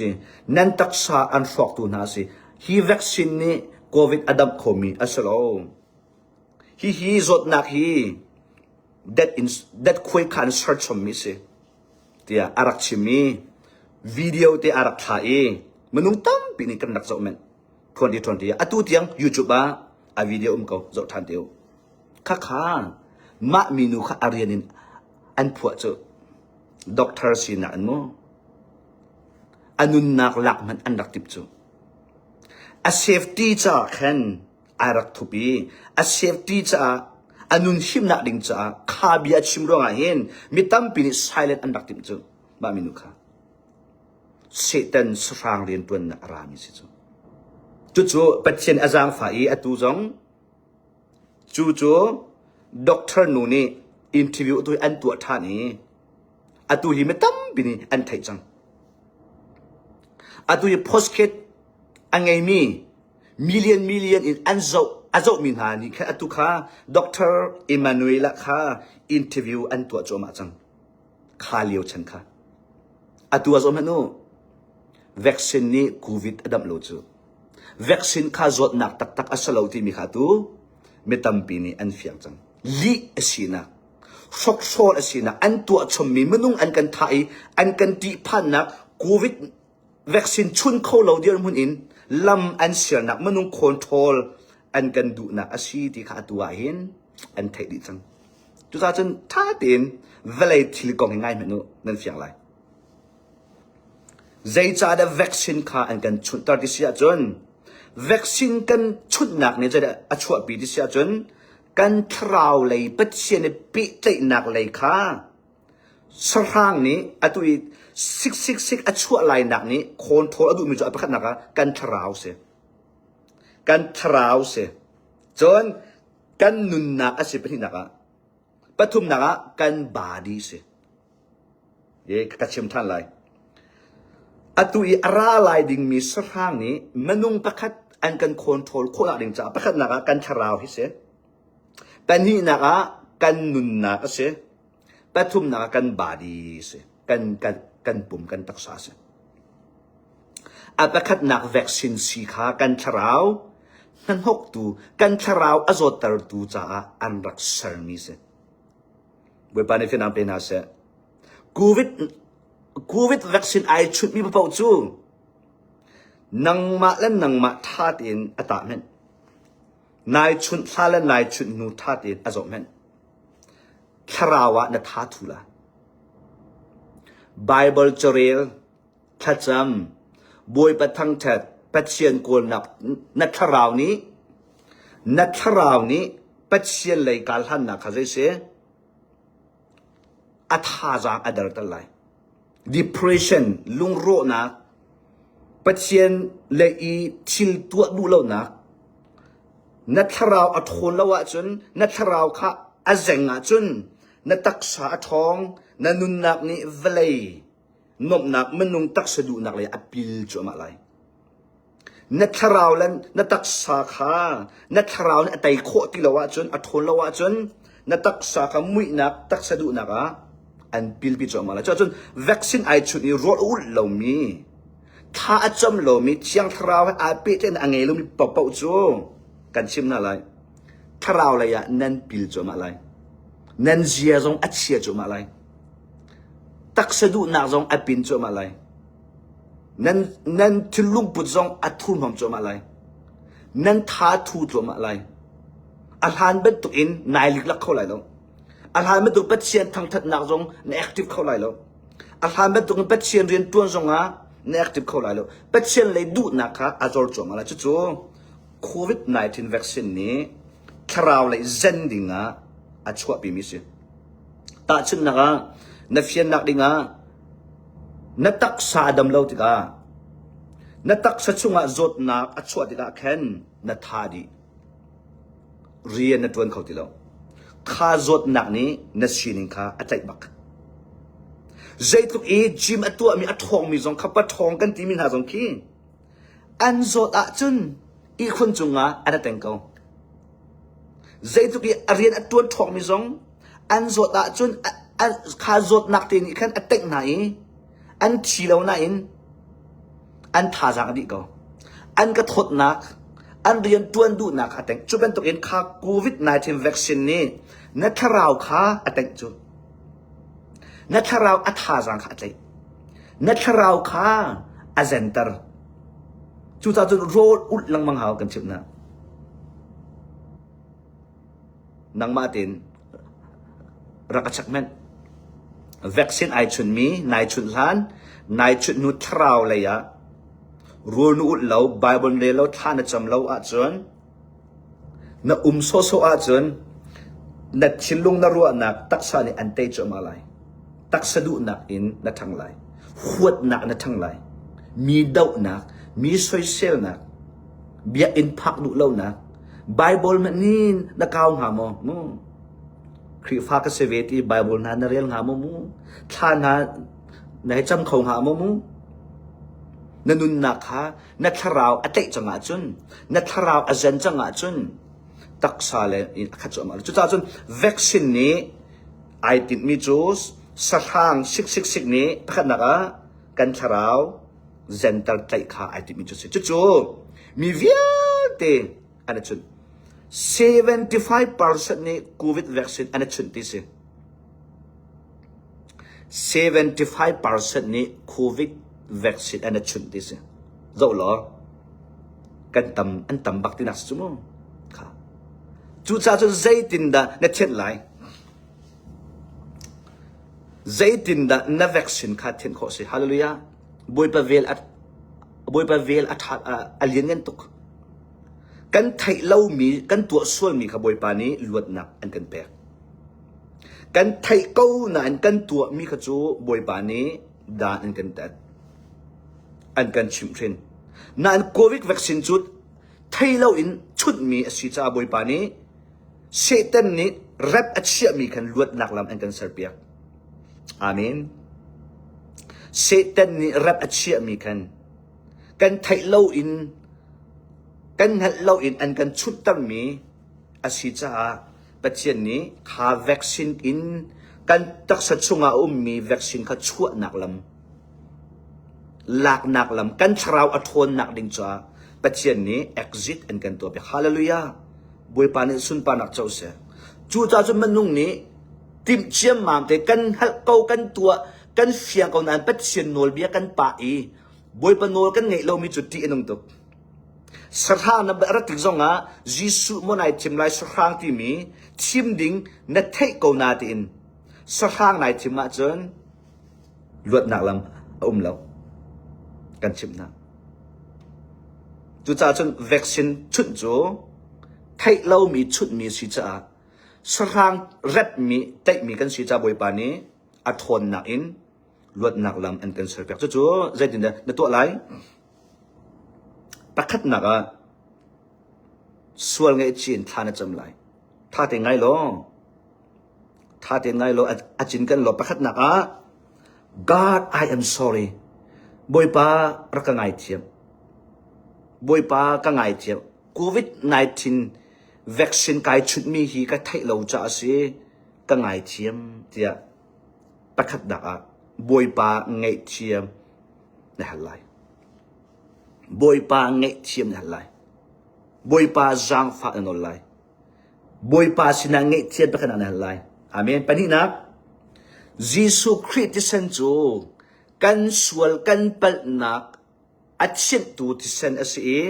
si. Nan taksa an hrawktu hna si. Hi vaccine nih COVID a damh khomi a si lo. Hihi zawtnak hi that in that khuai khan search chommi si. Tiah a rak chimmi video te a rak thla i minung tampi nih kan rak zoh men 2020 atu tiang YouTube ah a video um ko zoh than te u khakha mah minu kha arian in an phuah cu doctor sinak an mu a nunnak lak hmanh an rak timh cu. A safety caah khan ai rak thup i a safety caah a nun himnak ding caah kha bia a chim ruangah hin mi tampi nih silent an rak timh cu. Mah minu kha Satan sahrang rianṭuannak a rami a si cu. Cucu Pathian a zaangfah i atu zong cu cu doctor nu nih interview tu an tuah ṭhan i Atu hi mi tampi nih an theih cang. Atu hi postcard a ngeimi million million in an zoh a zohmi hna nih khan atu kha Dr. Emanuela kha interview an tuah cuahmah cang. Kha lio chan kha. Atu a zom hmanh u vaccine nih covid a damh lo cu. Vaccine kha zawtnak taktak a si lo timi kha tu mi tampi nih an fiang cang. Lih a sinak hrokhrawl a sinak an tuah chommi minung an kan thah i an kan ṭihphannak covid vaccine chun kho lo dirhmun in lam an sialnak minung control an kan duhnak a si ti kha atu ah hin an theih dih cang cucaah cun ṭha tein vawlei thil kong hi ngai hmanh u nan fiang lai zeicahdah vaccine kha an kan chunhter ti si ahcun vaccine kan chunhnak nih a chuahpi ti si ahcun Kan thlarau lei Pathian i pehtlaihnak lei kha sahrang nih atu i siksiksik a chuah lainak nih khawn ṭhawl a duhmi cu a pakhatnak ah kan thlarau si. Kan thlarau si. Cun kan nunnak a si pahnihnak ah, pathumnak ah kan body si. Ka ka chim ṭhan lai. Atu i a ra lai dingmi sahrang nih minung pakhat an kan control khawhnak ding caah pakhatnak ah kan thlarau hi si. Pahnihnak ah kan nunnak a si. Pathumnak ah kan body si. Kan, kan, kan pum, kan taksa si. A pakhatnak vaccine si kha kan thlarau hmanhoktu, kan thlarau a zawttertu caah an rak sermi si. Bawipa nih finang pe hna seh. Covid Covid vaccine ai chunhmi paoh cu nangmah le nangmah ṭha tein a tah hmenh. Nai chunh hla le nai chunh hnu ṭha tein a zoh hmenh. Thlarau ah na ttha thu la. Bible carel Thlacam, Bawipa thangṭhat, Pathian kawlnak na thlarau nih na thlarau nih Pathian lei kaa hlannak kha zei si? A thazaang a derter lai. Depression, lungrawhnak, Pathian le i thil tuah duh lonak, na thlarau a ṭhawl lo ahcun, na thlarau kha a zeng ahcun, na taksa a ṭhawng, na nunnak nih vawlei Nuamhnak minung taksa duhnak lei a pil cuahmah lai. Na thlarau le na taksa kha na thlarau nih a tei khawh ti lo ahcun a ṭhawl lo ahcun na taksa kha muihnak taksa duhnak ah an pilpi cuahmah lai. Cuahcun vaccine ai chunh i ruah a ulh lomi tha a cam lomi thiang thlarau he aa pehtlaihnak a ngei lomi paoh cu kan chim hna lai. Thlarau lei ah nan pil cuahmah lai. Nan zia zong a chia cuahmah lai. Taksa duhnak zong a pin cuahmah lai. Nan, nan thil lungput zong a thurhnawm cuahmah lai. Nan tha thu cuahmah lai. A hlan bantuk in nai liklak kho lai lo. A hlan bantuk Pathian thangthatnak zong na active kho lai lo. A hlan bantuk in Pathian rian tuan zong ah na active kho lai lo. Pathian lei duhnak kha a zor cuahmah lai. Cucu COVID-19 vaccine nih thlaraulei zen dingah a chuahpimi a si. Tahchunhnak ah, na fiannak dingah na taksa a dam lo tikah na taksa chungah zawtnak a chuah tikah khan na tha dih. Rian na tuan kho ti lo. Kha zawtnak nih na sining kha a tlaih bak. Zeitluk i gym a tuahmi a ṭhawngmi zong kha pa ṭhawng kan timi hna zong khi An zawt ahcun ihkhun cungah an a teng ko. Zeitluk i a rian a ṭuan ṭhawkmi zong an zawt ahcun kha zawtnak te nih khan a tengh hna i an thi lo nain an thazaang a dih ko. An ka thawtnak, an rian ṭuan duhnak a tengh. Cu bantukin kha COVID-19 vaccine nih na thlarau kha a tengh cu. Na thlarau a thazaang kha a tlaih. Na thlarau kha a zenter. Cucaah cun rawl ulh lengmang hau kan chimh na. Nangmah tein rak ka chek men. Vaccine ai chun mi, nai chun hlan, nai chun nu thlarau lei ah, rul nu ulh lo, Bible le lo thla na cam lo ahcun, Na um sawhsawh ahcun na thinlung na ruahnak taksa nih an tei cuahmah lai. Taksa duhnak in na ṭhang lai. Huatnak na ṭhang lai. Mi dohnak, mi soiselnak, biakinn phak duh lonak, Bible manin na kau hnga maw? Mu. Khrihfa ka si ve ti Bible hna na rel hnga maw mu? Thla hna na hei cam kho hnga maw mu? Na nunnak kha na thlarau a tlaih cangah cun na thlarau a zen cangah cun taksa le in a khat cuahmah cucaah cun vaccine nih ai tinhmi cu sahrang siksiksik nih pakhatnak ah kan thlarau zenter tlaih kha ai timhmi cu si cucu mi vialte an a chunh 75% nih covid vaccine an a chunh ti si seventy-five percent nih Covid vaccine an i chunh ti a si. Zoh law kan tam an tam bak tinak a si cu mu. Kha. Cucaah cun zeitindah na thenh lai? Zeitindah na vaccine kha thenh khawh si? Hallelujah. Bawipa vel a Bawipa vel a ṭha a lian ngan tuk. Kan theih lomi, kan tuah sualmi kha Bawipa nih luatnak an kan pek. Kan theih ko nain kan tuahmi kha cu Bawipa nih dan an kan tat, an kan chimh hrin. Nain Covid vaccine cu thei loin chunhmi a si caah Bawipa nih Satan nih rep a chiahmi khan luatnak lam an kan serpiak. Amen. Satan nih rep a chiahmi khan kan theih loin kan hngalh loin an kan chunhtermi a si caah Pathian nih kha vaccine in kan taksa chungah a ummi vaccine kha chuahnak lam laknak lam kan thlarau a ṭhawnnak ding caah Pathian nih exit an kan tuah piak. Hallelujah. Bawipa nih sunparnak co seh. Cu caah cun manung nih timh ciammam te kan halh ko kan tuah kan fiang ko nain Pathian nawlbia kan pah i Bawipa nawl kan ngeih lomi cu ṭih a nung tuk. Sahrang na rat tik zongah Jesuh maw nai thim lai sahrang timi thim ding na theih ko na tiin sahrang nai thim ahcun luatnak lam a um lo. Kan chimhnak. Cucaah cun vaccine chunh cu theih lomi chunhmi si caah sahrang repmi teihmi kan si ca Bawipa nih a ṭhawnnak in luatnak lam an kan ser piak cucu zeitindah na tuah lai pakhatnak ah sual ngaihchin thla na cam lai tha te ngai law tha te ngai law a cin kan law pakhatnak ah God I am sorry Bawipa rak ka ngai thiam Bawipa ka ngai thiam COVID-19 vaccine kai chut mi hi ka theih lo cha si ka ngai thiam tiah Pakhatnak ah Bawipa ngaihthiam na hal lai. Bawipa ngaihthiam na hal lai. Bawipa zaangfah na nawl lai. Bawipa sinah ngaihthiam peknak na hal lai. Amen. Pahnihnak, Jesuh Khrih thisen cu kan sual kan palhnak A chinhtu thisen a si i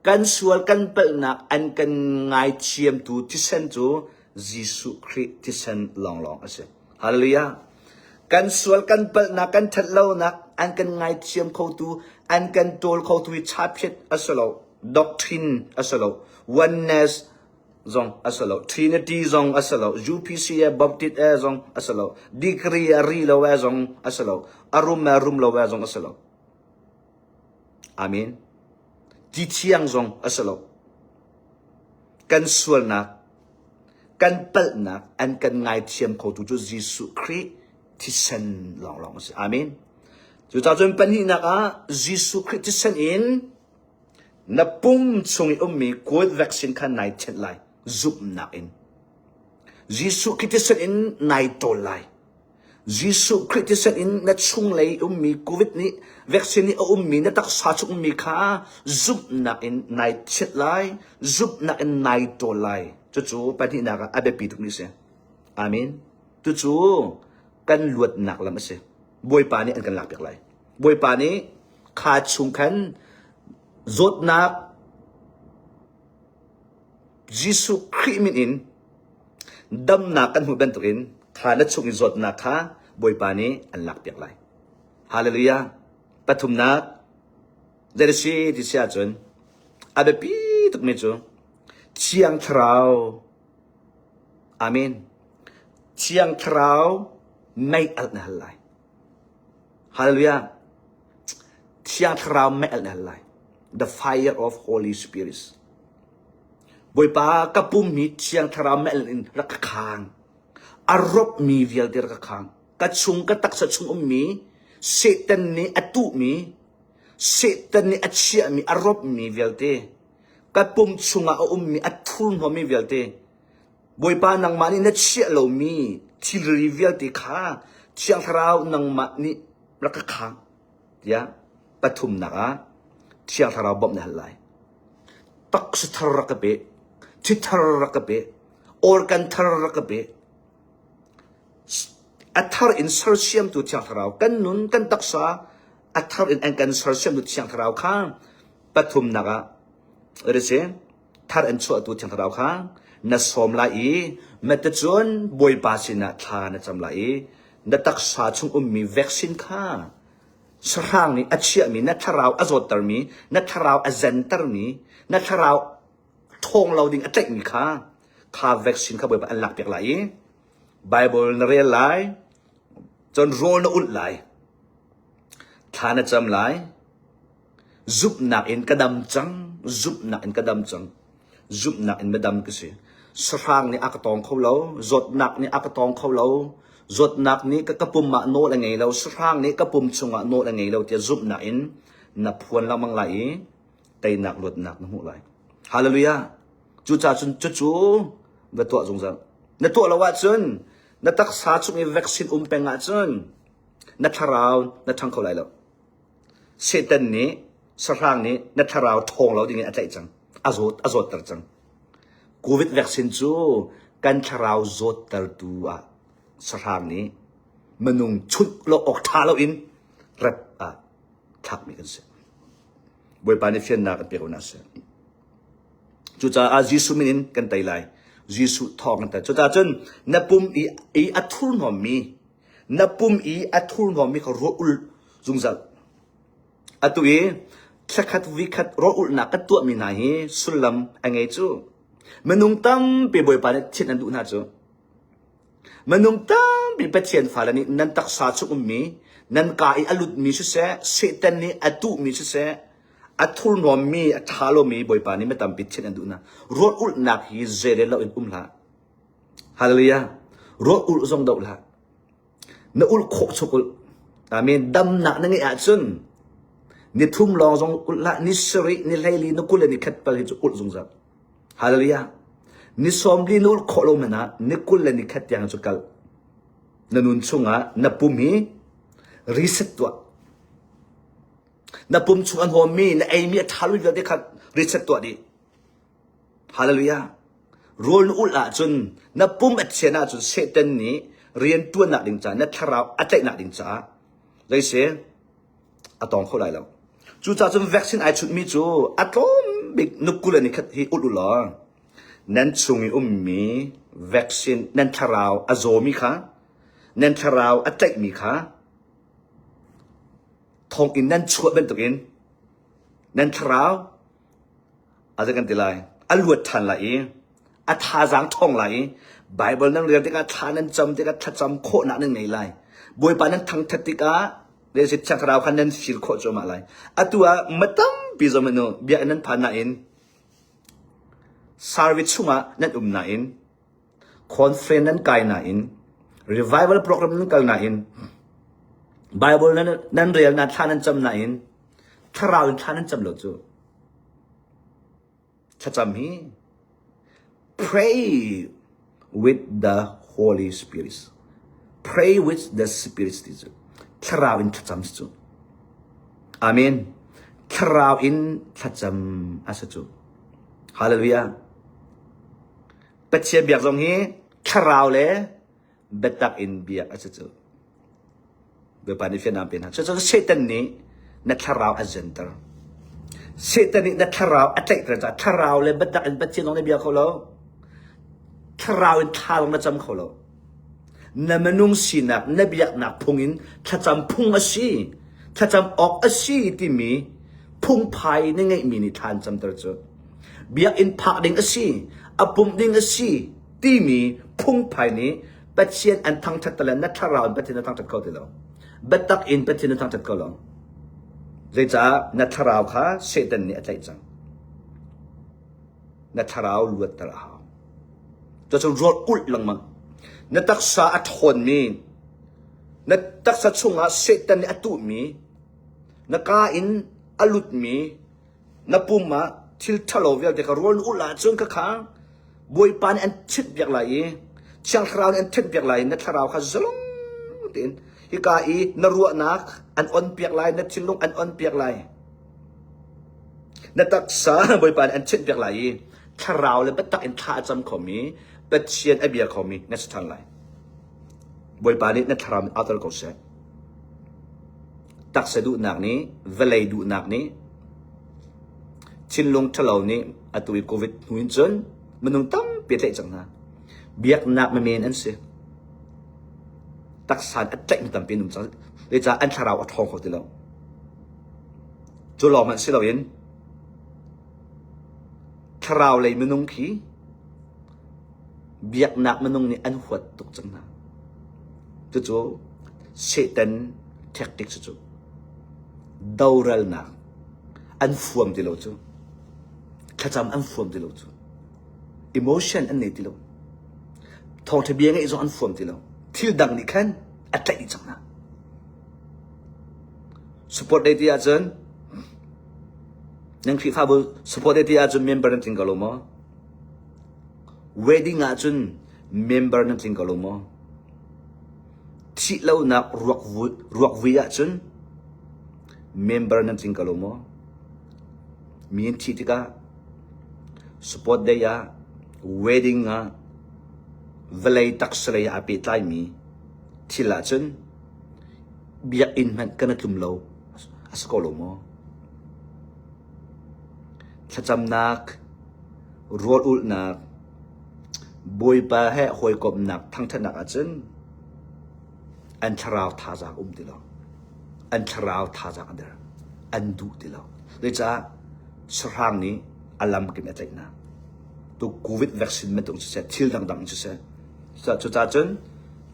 kan sual kan palhnak an kan ngaithiamtu thisen cu Jesuh Khrih thisen lawnglawng a si. Halleluja! Kan sual kan palhnak kan that lonak an kan ngaithiam khotu an kan ṭawl khotu hi thapiat a si lo, doctrine a si lo, oneness Trinity zong a si lo, UPC e Baptist e zong a si lo, degree a ri lo e zong a si lo, a rum e rum lo e zong a si lo. Amen. Ti thiang zong a si lo. Kan sualnak, kan palhnak, an kan ngaithiam kho tu cu Jesuh Khrih thisen lawnglawng a si. Amen. Cucacun pahnihnak ah Jesuh Khrih thisen in Na pum chung i ummi COVID vaccine kha nai thenh lai, zumhnak in. Jesuh Khrih thisen in nai ṭawl lai. Jesuh Khrih thisen in na chunglei ummi COVID nih vaccine nih a ummi na taksa chung ummi kha zumhnak in nai thiet lai, zumhnak in nai ṭawl lai. Cucu pahnihnak ah a biapi tukmi a si. Amen. Tucu kan luatnak lam a si. Bawipa nih an kan lakpiak lai. Bawipa nih kha chung khan zawtnak Jesuh Khrih min in damnak kan hmuh bantukin kha na chung i zawtnak kha Bawipa nih an lakpiak lai. Hallelujah. Pathumnak That is it, ti si ahcun a biapi tukmi cu Thiang Thlarau Amen! Thiang Thlarau mei alh na hal lai. Hallelujah! Thiang Thlarau mei alh na hal lai. The fire of Holy Spirit is. Bawipa ka pummi Thiang Thlarau mei alh in rak ka khang. A ropmi vialte rak ka khang. Ka chung ka taksa chung ummi Satan nih a tuhmi Satan nih a chiahmi a ropmi vialte Ka pum chungah a ummi a thurhnawmi vialte, Bawipa nangmah nih na chiah lomi thilri vialte kha Thiang Thlarau nangmah nih rak ka khang tiah pathumnak ah Thiang Thlarau bawmh na hal lai. Taksa thar rak ka pe, thithar rak ka pe, organ thar rak ka pe, a thar in sersiamtu Thiang Thlarau kan nun kan taksa a thar in an kan sersiam tu thiang thlarau kha pathumnak ah risi thar an chuahtu thiang thlarau kha na sawm lai i na te cun bawipa sinah thla na cam lai i na taksa chung ummi vaccine kha sahrang nih a chiahmi na thlarau a zawttermi na thlarau a zentermi na thlarau thawng lo ding a tlaihmi kha kha vaccine kha bawipa an lak piak lai i Bible na rel lai Cun rawl na ulh lai, thla na cam lai, zumhnak in ka dam cang, zumhnak in ka dam cang, zumhnak in na dam ka si. Sahrang nih a ka tawng kho lo, zawtnak nih a ka tawng kho lo, zawtnak nih ka, ka pum ah nawl a ngei lo, sahrang nih ka pum chungah nawl a ngei lo tiah zumhnak in na phuan lengmang lai i teinak luatnak na hmuh lai. Hallelujah! Cucacun cucu va tuah zungzal. Na tuah lo ahcun Na taksa chung i vaccine um peng ahcun na thlarau na ṭhang kho lai lo. Satan nih sahrang nih na thlarau ṭhawng lo dingin a tlaih cang. A zawt a zawtter cang. Covid vaccine cu kan thlarau zawttertu ah sahrang nih minung chunh lo awk ṭha loin rat ah thlakmi kan si. Bawipa nih fiannak kan pek awnak a si. Cucaah Jesuh min in kan tei lai. Jesuh thawng kan tei. Cucaah cun na pum i, i a thurhnawmmi, na pum i a thurhnawmmi kha ruah ul zungzal. Atu i thlakhat vikhat ruah ulhnak kan tuahmi hna hi sullam a ngei cu. Minung tampi Bawipa nih thin an duh hna cu. Minung tampi Pathian fale nih nan taksa chung ummi, nan ka i a lutmi siseh, Satan nih a tuhmi siseh, a thurnuammi, a ṭha lomi Bawipa nih mi tampi thianh an duhnak ruat ulhnak hi zeirel loin um hlah. Hallelujah. Ruat ulh zong doh hlah. Na ulh khawh chuk ulh. Amen. Damnak na ngeih ahcun ni thum lawng zong ulh hlah. Ni sarih, ni hlei, ni kul le ni khat pal hi cu ulh zungzal. Hallelujah! Ni sawm li na ulh khawh lo man ah ni kul le ni khat tiang cu kal. Na nun chungah na pum hi reset tuah. Na pum chung an hawmmi na eimi a ṭha lu vialte kha reset tuah dih. Hallelujah! Rawl na ulh ahcun na pum a chian ahcun Satan nih rian ṭuannak ding caah na thlarau a tlaihnak ding caah. Zei si? a tawng kho lai lo. Cucahcun vaccine ai chunhmi cu a tlawm bik nuku le nikhat hi ulh u law nan chung i ummi vaccine nan thlarau a zawmi kha nan thlarau a tlaihmi kha thonginn nan chuah bantukin nan thlarau A zei kan ti lai? A luat ṭhan lai i a thazaang ṭhawng lai i Baibal nan rel tikah thla nan cam tikah thlacam khawhnak nan ngei lai. Bawipa nan thangṭhat tikah Leidip Thiangthlarau kha nan fir khawh cuahmah lai. Atu ah ma tampi zong hmanh nu biakinn nan phan nain sarvi chungah nan um nain Khawnsren nan kai nain revival program nan kal nain Bible nan rel nain thla nan cam nain thlarau in thla nan cam lo cu. Thlacam hi pray with the Holy Spirit. Pray with the Spirit ti cu thlarau in thlacam si cu. Amen. Thlarau in thlacam asa cu. Hallelujah. Pathian biak zong hi thlarau le biatak in biak a si cu. Bawipa nih fianam pe hna. Cucu Satan nih na thlarau a zenter. Satan nih na thlarau a tlaihter caah thlarau le biatak in Pathian zong na bia kho lo. Thlarau in thalang na cam kho lo. Na minung sinak na biaknak phung in thlacam phung a si, thlacam awk a si timi phungphai na ngeihmi nih thla an camter cu. Biakinn phak ding a si, a pumh ding a si timi phungphai nih Pathian an thangṭhat te le na thlarau in Pathian na thangṭhat kho ti lo. Biatak in Pathian na thangṭhat kho lo. Zeicah na thlarau kha Satan nih a tlaih cang? na thlarau luatter a hau. Cuacun rawl ulh lengmang. Na taksa a ṭhawnmi, na taksa chungah Satan nih a tuhmi, na kaa in a lutmi, na pum ah thil ṭhalo vialte kha rawl na ulh ahcun khakha Bawipa nih an ṭhitbiak lai i Thiangthlarau nih an ṭhitbiak lai na thlarau kha zalong tein hika i na ruahnak an on piak lai, na thinlung an on piak lai. Na taksa Bawipa nih an chinhpiak lai i thlarau le biatak in thla a cam khomi Pathian a bia khomi na si thang lai. Bawipa nih na thlarau mit auter ko seh. Taksa duhnak nih vawlei duhnak nih thinlung ṭhalo nih atu i Covid hnu in cun minung tampi tlaih cang hna. Biaknak memen an si. Taksa a tlaih mi tampi an um cang. Zeicah an thlarau a ṭhawng kho ti lo. Cu lawng hmanh si loin thlarau lei minung khi biaknak minung nih an huat tuk cang hna. Cucu Satan tactic cucu doralnak an fuam ti lo cu. Thlacam an fuam ti lo cu. Emotion an nei ti lo. Thawngṭha bia ngeih zong an fuam ti lo. Thil dang nih khan a tlaih dih cang hna. Support dei ti ahcun nan Khrihfabu support dei ti ahcun member nan tling ko lo maw? Wedding ahcun member nan tling ko lo maw? Thih lonak ruak vui, ruak vui ahcun member nan tling ko lo maw? Mi an thih tikah support dei ah wedding ah vawlei taksalei ah aa pehtlaimi thil ahcun Biakinn hmanh kan i tlum lo. A si ko lo maw? Thlacamnak, rawlulhnak, Bawipa he hawikomhnak thangṭhatnak ahcun an thlarau thazaang um ti lo. An thlarau thazaang a der. An duh ti lo. Zeicah? Sahrang nih a lamkim a tlaihnak. Tu COVID vaccine bantuk siseh, thil dangdang in siseh, cucacun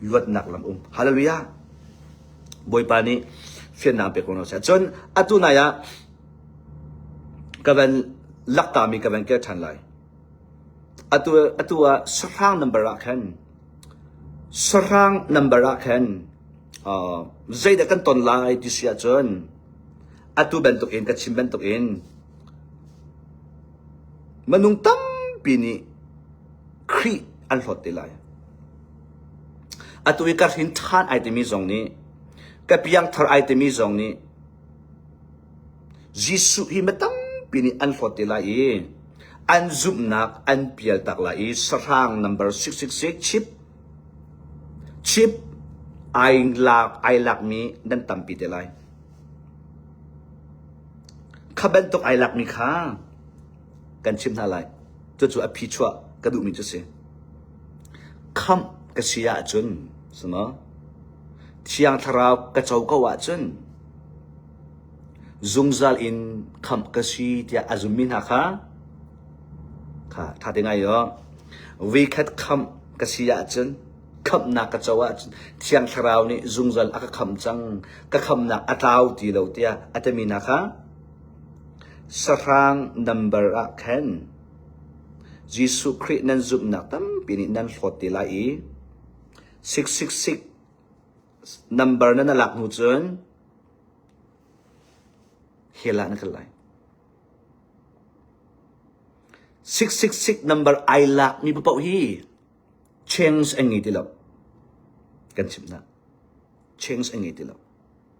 luatnak lam um hallelujah bawipa nih fiannak pek ko sah cun atu nai ah ka van laktami ka van kir ṭhan lai atu atu ah sahrang number ah khan sahrang number ah khan zeidah kan ton lai ti si ahcun atu bantukin ka chim bantukin manung tampi nih Khrih an hlawt te lai Atu i ka hrin ṭhan ai timi zong nih, ka piangthar ai timi zong nih, Jesuh hi mi tampi nih an hlawt te lai i an zumhnak an pial tak lai i sahrang nambar siksiksik chip, chip ai lak ai lakmi nan tampi te lai. Kha bantuk ai lakmi kha kan chimh hna lai. Cucu a phi chuah ka duhmi cu si. Khamh ka si ahcun Thiang Thlarau ka co ko ahcun zungzal in khamh ka si tiah a zummi hna kha ṭha te ngai u. Vuikhat khamh ka si ahcun khamhnak ka co ahcun Thiang Thlarau nih zungzal a ka khamh cang, ka khamhnak a tlau ti lo tiah a timi hna kha sahrang nambar ah khan Jesuh Khrih nan zumhnak tampi nih nan hlawt te lai i sik sik sik nambar na na lak hnu cun hell ah na kal lai. Sik sik sik nambar ai lakmi paoh hi change an ngei ti lo. Kan chimh hna. Change an ngei ti lo.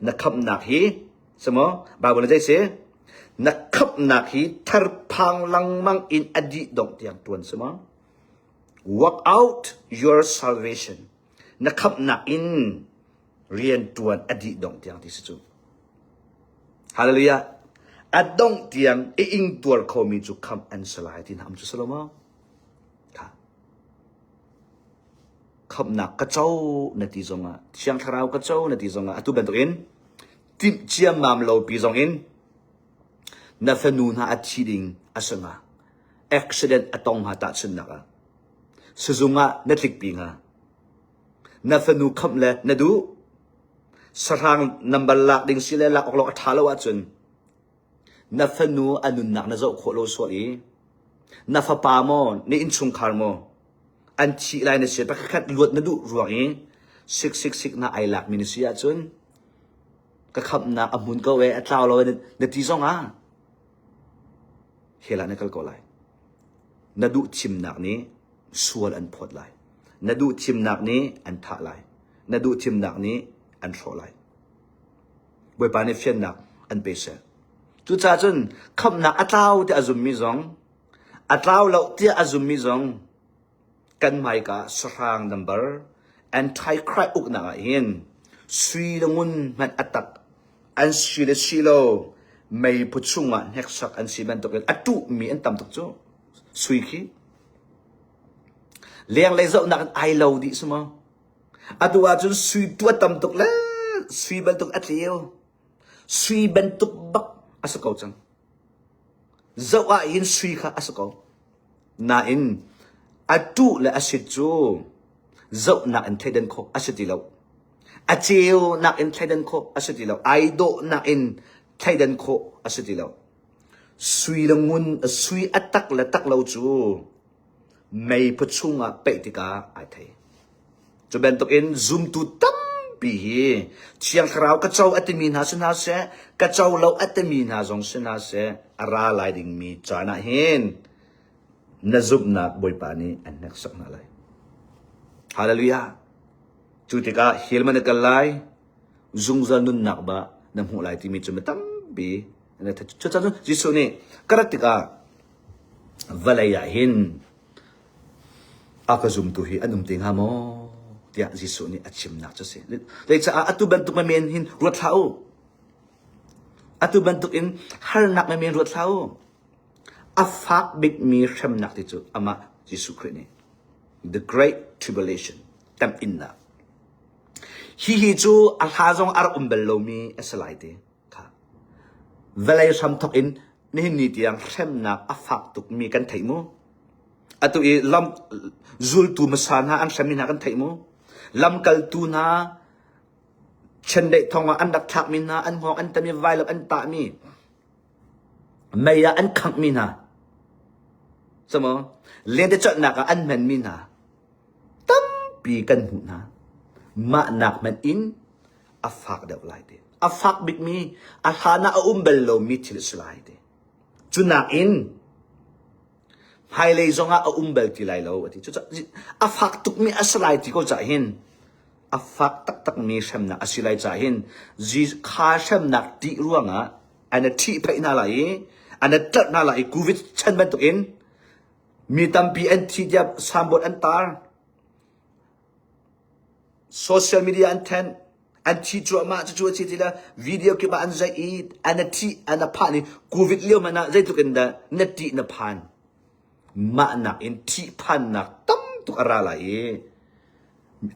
Na khamhnak hi si maw Baibal zei si na khamhnak hi tharphang lengmang in a dih dongh tiang tuan si maw work out your salvation na khamhnak in rian tuan a dih dongh tiang ti si cu hallelujah a dongh tiang i ing tuar khomi cu khamh an si lai ti nam cu salomo khamnak ka co na ti zongah thiang thlarau ka co na ti zongah atu bantukin timh ciammam lopi zongin na fanu hna a thi ding a sanga accident a tong ha tahchunnak ah sizung ah na tlikpi nga na fanu kham le na duh sahrang nambar lak ding si le lak awk lo a tha lo ahcun Na fanu a nunnak na zoh khawh lo sual i na fapa maw na innchungkhar maw an thih lai na si pakhat luat na duh ruang i sik sik sik na ai lakmi na si ahcun ka khamnak a hmun ko e a tlau lo na ti zong ah hela na kal ko lai na duh thimnak nih sual an phawt lai na duh thimnak nih an thah lai na duh thimnak nih an hrawh lai Bawipa nih fiannak an pe seh. Cucaah cun khamhnak a tlau tiah a zummi zong, a tlau lo tiah a zummi zong, kan hmaika sahrang nambar Antichrist uknak ah hin sui le ngun hmanh a tak an si le si lo mei phu chungah hneksak an si bantukin a tuhmi an tam tuk cu sui khi leng lei zohnak in ai lo dih suma Atu ahcun sui tua tam tuk le sui bantuk a tleu. Sui bantuk bak a si ko cang. Zoh ah hin sui kha a si ko. Nain a tu le a sit cu zohnak in thleidan khawh a si ti lo. A ceu nak in thleidan khawh a si ti lo. Ai dawh nak in thleidan khawh a si ti lo. Sui le ngun sui a tak le tak lo cu mei phu chung ah peih tikah ai thei. Cu bantuk in zumtu tampi hi Thiang Thlarau ka co a timi hna si hna seh, ka co lo a timi hna zong si hna seh, a ra lai dingmi caan ah hin na zumhnak Bawipa nih an hneksak hna lai. Hallelujah! Cu tikah hil man na kal lai, zungzal nunnak ba na hmuh lai timi cu mi tampi an i thei. Cucun Jesuh nih ka rat tikah Vawlei ah hin a ka zumtu hi an um te hnga maw? tiah Jesuh nih a chimnak cu a si. Zeicaah atu bantuk me men hin ruat hlah u. Atu bantuk in harnak me men ruat hlah u. A fak bikmi hremnak ti cu amah Jesuh Khrih nih the great tribulation temh innak. Hi hi cu a hla zong a rak um bal lomi a si lai ti. Vawlei hram thawk in nihin ni tiang hremnak a fak tukmi kan theih mu. Atu i lam zultu hmasa hna an hremmi hna kan theih mu. Lamkaltu hna chendeih thawngah an rak thlakmi hna an hngawng an tam i vailok an tahmi mei ah an khanghmi hna camaw lente colhnak ah an hmenmi hna tampi kan hmuh hna mah nak hmanh in a fak deuh lai te. A fak bikmi, a hlan ah a um bal lomi thil a si lai te. Cu nakin hmailei zong ah a um bal ti lai lo a ti. Cucah a fak tukmi a si lai ti ko cah hin a fak taktakmi hremnak a si lai cah hin kha hremnak tih ruangah ana thih phaih hna lai i ana tlar hna lai i covid chan bantukin mi tampi an thi tiap sambot an tar Social media an thenh, an thi cuahmah. Cucu a si ti le video kip ah an zaih i an a thih, an a phah ni Covid lio hmanh ah zeitluk in dah na ttih na phan. Mah nakin thihphannak tam tuk a ra lai i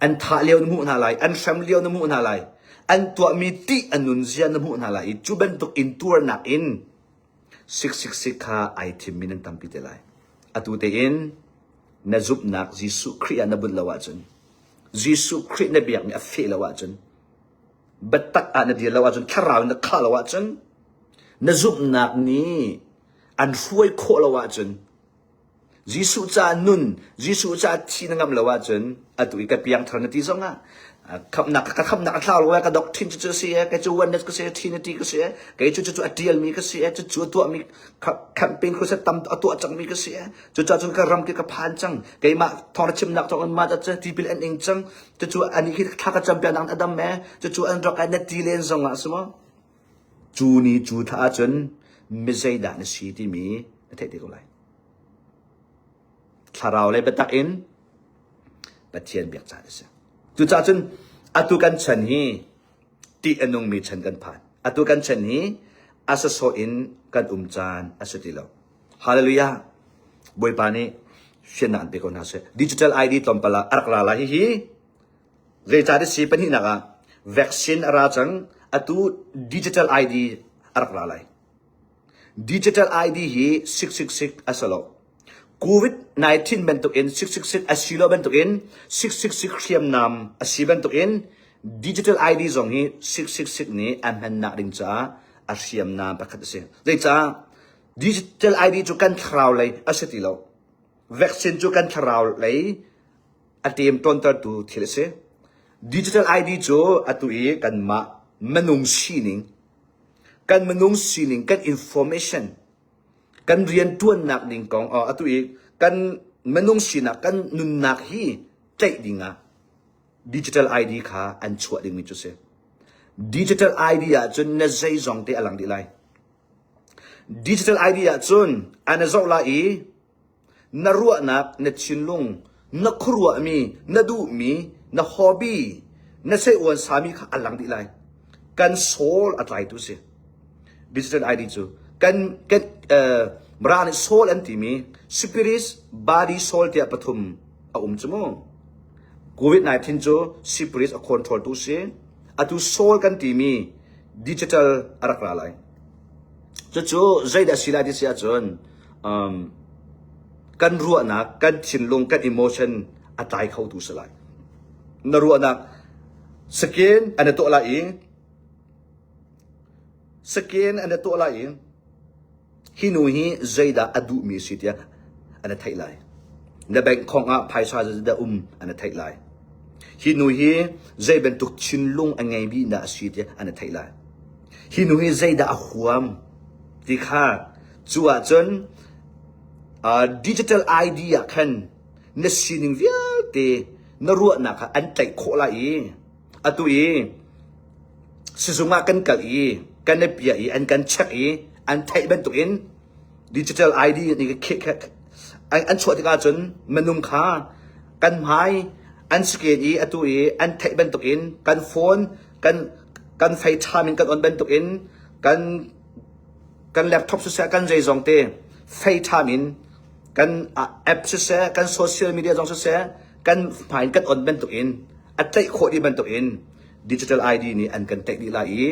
an thah lio na hmuh hna lai, an hrem lio na hmuh hna lai, an tuahmi ttih a nunzia na hmuh hna lai i cu bantuk intuarnak in Siksikzik kha ai thimmi nan tampi te lai. Atu tein na zumhnak Jesuh Khrih ah na bunh lo ahcun, Jesuh Khrih na biakmi a feh lo ahcun, biatak ah na dir lo ahcun, thlarau in na khah lo ahcun, na zumhnak nih an hruai khawh lo ahcun, Jesuh caah nun, Jesuh caah thi na ngamh lo ahcun atu i ka piangthar na ti zongah khamhnak ka khamhnak a thlau lo ka doctrine cucu a si i kei cu oneness ka si i trinity ka si i kei cu cucu a ṭialmi ka si i cucu a tuahmi campaign crusade tam a tuah cangmi ka si i cucaah cun ka ram khi ka phan cang keimah thawng chimnak thawngin mah cu tipil an ing cang cucu anih hi thla ka campiak nak a dam e cucu an rak ai na ti len zongah a si maw? Cu ni cu thla ahcun mizeidah na si timi na theih te ko lai. Thlarau le biatak in Pathian biak caan a si. Cucaah cun atu kan chan hi tih a nungmi chan kan phan. Atu kan chan hi a sasawh in kan um caan a si ti lo. Hallelujah! Bawipa nih fiannak an pe ko hna seh. Digital ID tlawmpal ah a rak ra lai hihi Zeicah ti si pahnihnak ah vaccine a ra cang. Atu digital ID a rak ra lai. Digital ID hi siksiksik a si lo. COVID-19 bantukin siksiksik a si lo bantukin siksiksik hriamnam a si bantukin digital ID zong hi siksiksik nih a hmannak ding caah a hriamnam pakhat a si. Zeicah digital ID cu kan thlarau lei a si ti lo. Vaccine cu kan thlarau lei a ṭem ṭawntertu thil a si. Digital ID cu atu i kanmah minung sining, kan minung sining, kan information, kan rianṭuannak ding kong oh, atu i kan minung sinak, kan nunnak hi tlaih ding ah digital ID kha an chuah dingmi cu si. Digital ID ahcun na zeizong te a lang dih lai. Digital ID ahcun ana zoh la i Na ruahnak na thinlung, na khuaruahmi, na duhmi, na hobby, na seiuan sami kha a lang dih lai. Kan soul a tlaitu si. Business ID cu kan kan uh, mara nih soul an timi spirit body soul tiah pathum a um cu mu. COVID-19 cu spirit a control tu si. Atu soul kan timi digital a rak ra lai. Cucu zeidah si lai ti si ahcun kan ruahnak, kan thinlung, kan emotion a tlai khotu si lai. Na ruahnak skin an i tuah lai i skin an i tuah lai i hi nu hi zeidah a duhmi si tiah an i theih lai. Na bank khong ah phaisa zeidah um an i theih lai. Hi nu hi zei bantuk thinlung a ngei bihna a si tiah an i theih lai. Hi nu hi zeidah a huam ti kha Cu ahcun uh, digital ID ah khan na sining vialte na ruahnak ah an tlaih khawh lai i atu i sizung ah kan kal i kan i piah i an kan check i an theih bantuk in digital ID an chuah tikah cun minung kha kan hmai an scan i atu i an theih bantuk in kan phone kan kan fei ṭham in kan on bantuk in kan kan laptop siseh kan zeizong te FaceTime in kan app siseh kan social media zong siseh kan hmai in kan on bantuk in a tlaih khawh dih bantuk in digital ID nih an kan tlaih dih lai i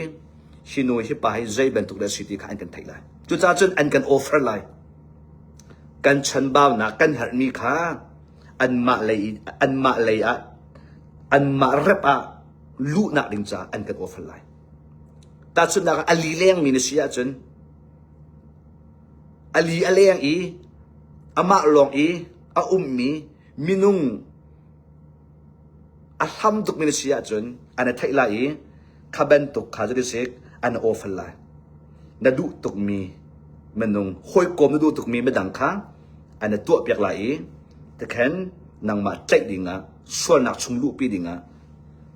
hi nu hi pa hi zei bantuk dah si ti kha an kan theih lai cucaah cun an kan offer lai kan chanbaunak kan herhmi kha anmah lei anmah lei ah anmah rep ah luhnak ding caah an kan offer lai Tahchunhnak ah, a li lengmi na si ahcun a li a leng i amah lawng i a ummi minung a hlam tukmi na si ahcun an i theih lai i kha bantuk kha cu ti sik an i awfal lai. Na duh tukmi minung, hawikom na duh tukmi midang kha an i tuahpiak lai i tikhen nangmah tlaih dingah sualnak chung luhpi dingah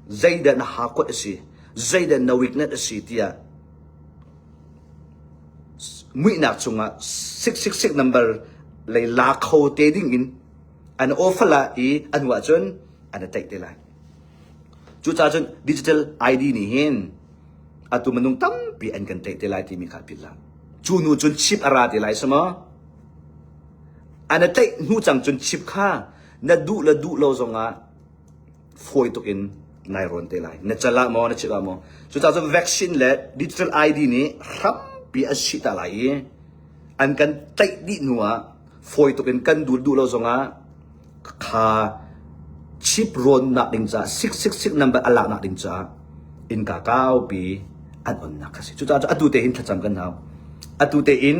zeidan a hakuat a si zeidan na weakness a si tiah muihnak cungah six six six number lei la kho te ding in an ofala i an wa cun an taih te lai cuca cun digital id nih hin atu minung tampi an kan taih te lai timi kha philla cu nu cun chip ara te lai sama ana taih hnu cang cun chip kha na duh le duh lo zongah fawi tuk in nai rawn te lai na cal ah maw na chik ah maw cucacun vaccine le digital ID nih hrampi a si ta lai i an kan tlaih dih hnu ah fawi tuk in kan dul duh lo zongah kha chip rawn nak ding ca sik sik sik number a lak nak ding ca in ka kau pi an on nak kasi cucacun atu te hin thlacam kan hau atu te in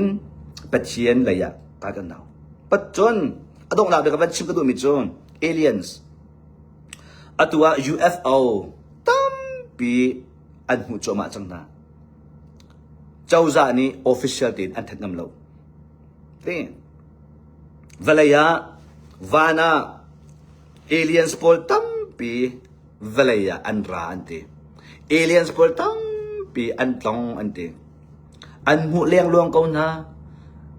pathian leiah ta kan hau pat cun a donghnak bia ka van chim ka duhmi cu aliens atu ah UFO tampi an hmuh cuahmah cang hna cozah nih official tein an that ngam lo tin vawlei ah van ah aliens pawl tampi vawlei ah an ra an ti. Aliens pawl tampi an tlong an ti. An hmuh lengluang ko hna.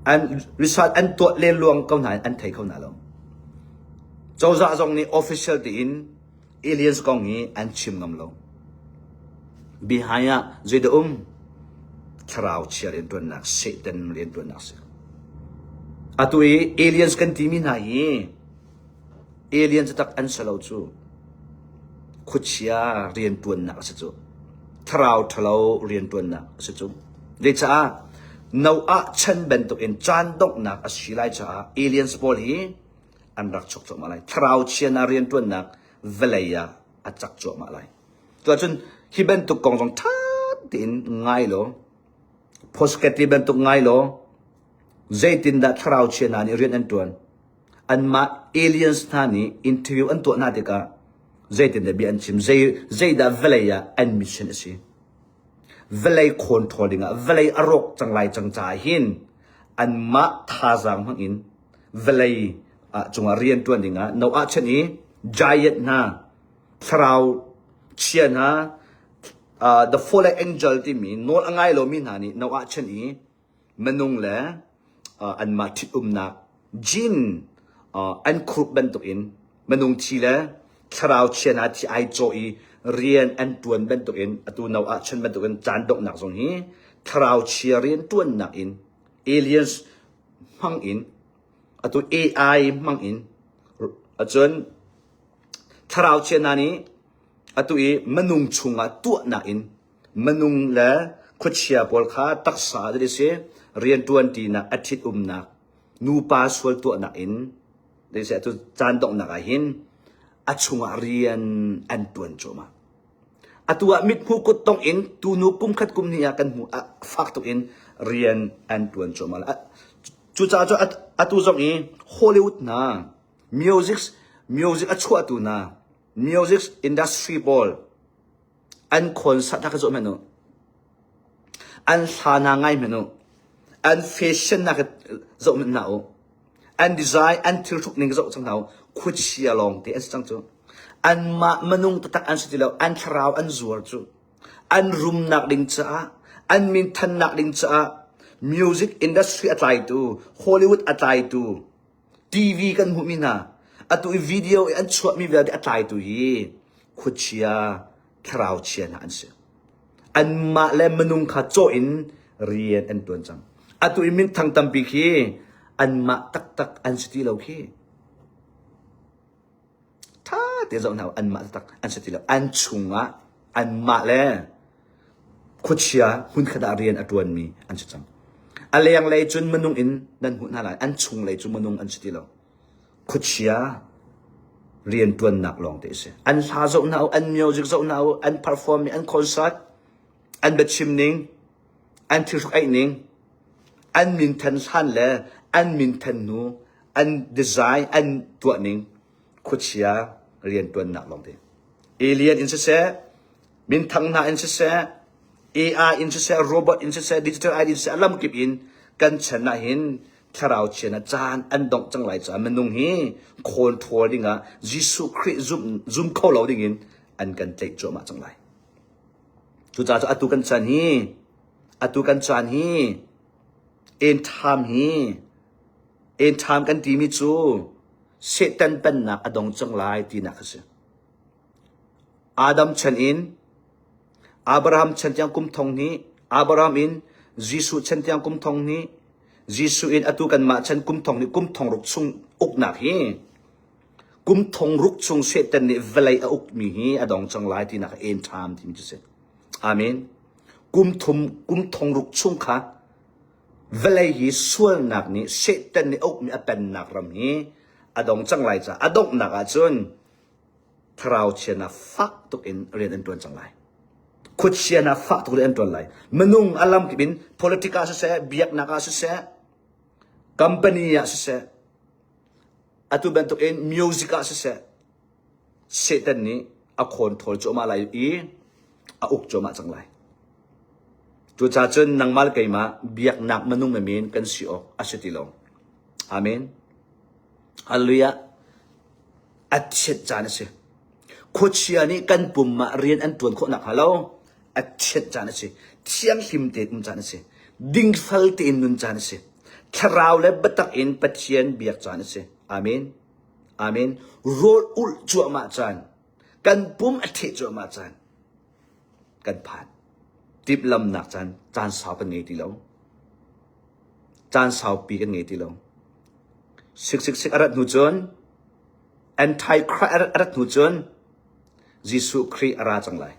An result an tuah lengluang ko hna an thei kho hna lo. Cozah zong nih official tiin aliens kong hi an chim ngam lo. Behind ah zeida um thlarau chia riantuannak Satan riantuannak si. Atu i aliens kan timi hna hi Alien catak an si lo cu. Khuachia rianṭuannak a si cu. Thlarau ṭhalo rianṭuannak a si cu. Zeicaah? Noah chan bantukin caan donghnak a si lai caah aliens pawl hi an rak chuk cuahmah lai. Thlarau chianaa rianṭuannak vawlei ah a cak cuahmah lai. Cuahcun hi bantuk kong zong ṭha tein ngai law, posketli bantuk ngai law, zeitindah thlarau chianaa nih rian an ṭuan? anmah aliens hna nih interview an tuah hna tikah zeitindah bia an chim zeidah vawlei ah an mission a si vawlei khawn ṭhawl dingah vawlei a rawk cang lai cang caah hin anmah thazaang hmangin vawlei ah cungah rianṭuan dingah no ah chen i giant hna thlarau chia hna the fallen angel timi nawl a ngai lomi hna nih no ah chen i Manung le anmah ṭhitumnak jin an khuruk bantukin manung thi le thlarau chian ah thi ai cawh i rian an ṭuan bantukin atu no ahcun bantukin caan donghnak zong hi thlarau chia rian ṭuannak in aliens hmang in atu AI hmang in acun thlarau chiana nih atu i manung chungah tuahnak in Manung le khuachia pawl kha taksa that a si, rianṭuanṭinak a ṭhitumnak, nupa sual tuahnak in atu caan donghnak ah hin a chungah rian an ṭuan cuahmah. Atu ah mithmuh kut tong in tunu kum khat kum hnih ah kan hmu ah fak tuk in rian an ṭuan cuahmah. Cucaah cu atu zong i Hollywood hna music music a chuahtu hna music industry pawl an khawl sat hna ka zuah hmanh u. An hla na ngai hmanh u. An fashion na ka zoh hmanh hna u. An design, an thil hruk ning ka zoh cang hna u. Khuachia lawng te an si cang cu. Anmah minung taktak an si ti lo. An thlarau an zuar cu. An rumnak ding caah, an minthannak ding caah, music industry a tlaitu, Hollywood a tlaitu, TV kan hmuhmi hna atu i video i an chuahmi vialte a tlaitu hi khuachia thlarau chia hna an si anmah le minung kha cawh in rian an tuan cang atu i minthang tampi khi anmah taktak an si ti lo khi ṭha ti zoh hna u, anmah taktak an si ti lo. An chungah anmah le khuachia hmunkhat ah rian a ṭuanmi an si cang. A lenglei cun minung in nan hmuh hna lai, an chunglei cu minung an si ti lo. Khuachia rian ṭuannak lawngte a si. An hla zoh hna u, an music zoh hna u, an perform nih an concert, an biachim ning, an thilhruk aih ning, an minthan hlan le an minthan hnu an design an tuah ning khuachia riantuannak lawngte. Alien in siseh, minthang hna in siseh, AI in siseh, robot in siseh, digital AI in siseh, a lamkip in kan chan ah hin thlarau chian ah caan an dongh cang lai caah minung hi khawl ṭhawl ding ah Jesuh Khrih zum, zum kho lo ding in an kan tlaih cuahmah cang lai. Cucaah atu kan caan hi atu kan caan hi end time hi end time kan timi cu Satan pennak a dong cang lai tinak a si. Adam chan in Abraham chan tiang kum thong ni Abraham in Jesuh chan tiang kum thong ni Jesuh in atu kanmah chan kum thong ni kum thong ruk chung uknak hi Kum thong ruk chung Satan nih vawlei a ukmi hi a dong cang lai tinak a en ṭham timi cu si. Amen. Kum thum kum thong ruk chung kha vawlei hi sualnak nih Satan nih ukmi a pennak ram hi a dong cang lai caah a donghnak ahcun thlarau chian ah fak tuk in rian an ṭuan cang lai. Khuachian ah fak tuk rian an ṭuan lai. Minung a lam kip in politik ah siseh, biaknak ah siseh, company ah siseh, Atu bantukin music ah siseh, Satan nih a khawn thawl cuahmah lai i a uk cuahmah cang lai. Cucacun nangmah le keimah biaknak minung me men kan si awk a si ti lo. Amen. Hallelujah. a chiat caan a si. Khuachia nih kan pum ah rian an tuan khawh nakhnga lo a chiat caan a si. Thianghlim tein um caan a si. Dingfal tein nun caan a si. Thlarau le biatak in Pathian biak caan a si. Amen. Amen. Rawl ulh cuahmah caan. Kan pum a theh cuahmah caan. kan phan. Timhlamhnak caan caan sau kan ngei ti lo. Caan saupi kan ngei ti lo. Siksiksik a rat hnu cun, Antichrist a rat hnu cun, Jesuh Khrih a ra cang lai.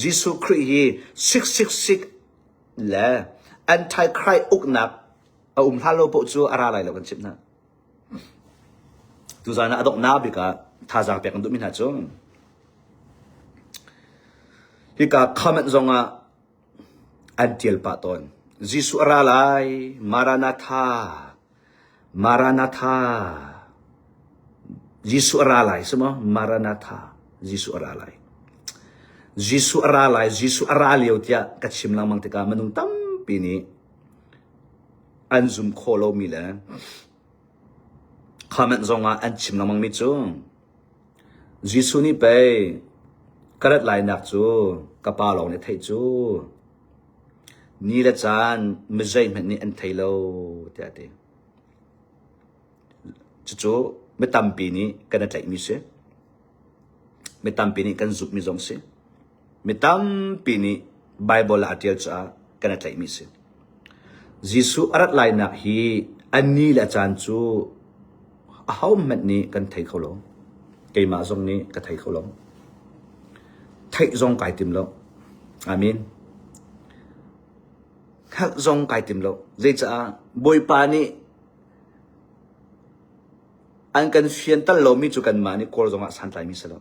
Jesuh Khrih hi siksiksik le Antichrist uknak a um hlah lo paoh cu a ra lai lo kan chimh hna. Tuzaan ah a donghnak bik ah thazaang pek an duhmi hna cu hika comment zong ah an tial pah tawn. Jesuh a ra lai, Maranatha, Maranatha. Jesuh a ra lai, si maw? Maranatha, Jesuh a ra lai. Jesuh a ra lai, Jesuh a ra lio tiah ka chim lengmang tikah minung tampi nih an zum khawh lomi le comment zongah an chim lengmang mi cu Jesuh nih pei ka rat lainak cu ka pa lawng nih theih cu ni le caan mizeihmanh nih an thei lo tiah a ti. Cucu mi tampi nih kan i tlaihmi si. Mi tampi nih kan zumhmi zong si. Mi tampi nih Baibal ah a ṭial caah kan i tlaihmi a si. Jesuh a rat lainak hi a ni le a caan cu ahohmanh nih kan thei kho lo. Keimah zong nih ka thei kho lo. Theih zong kai tim lo. Amen. Hngalh zong kai tim lo. Zeicah? Bawipa nih an kan fianter lomi cu kanmah nih kawl zongah santlaimi si lo.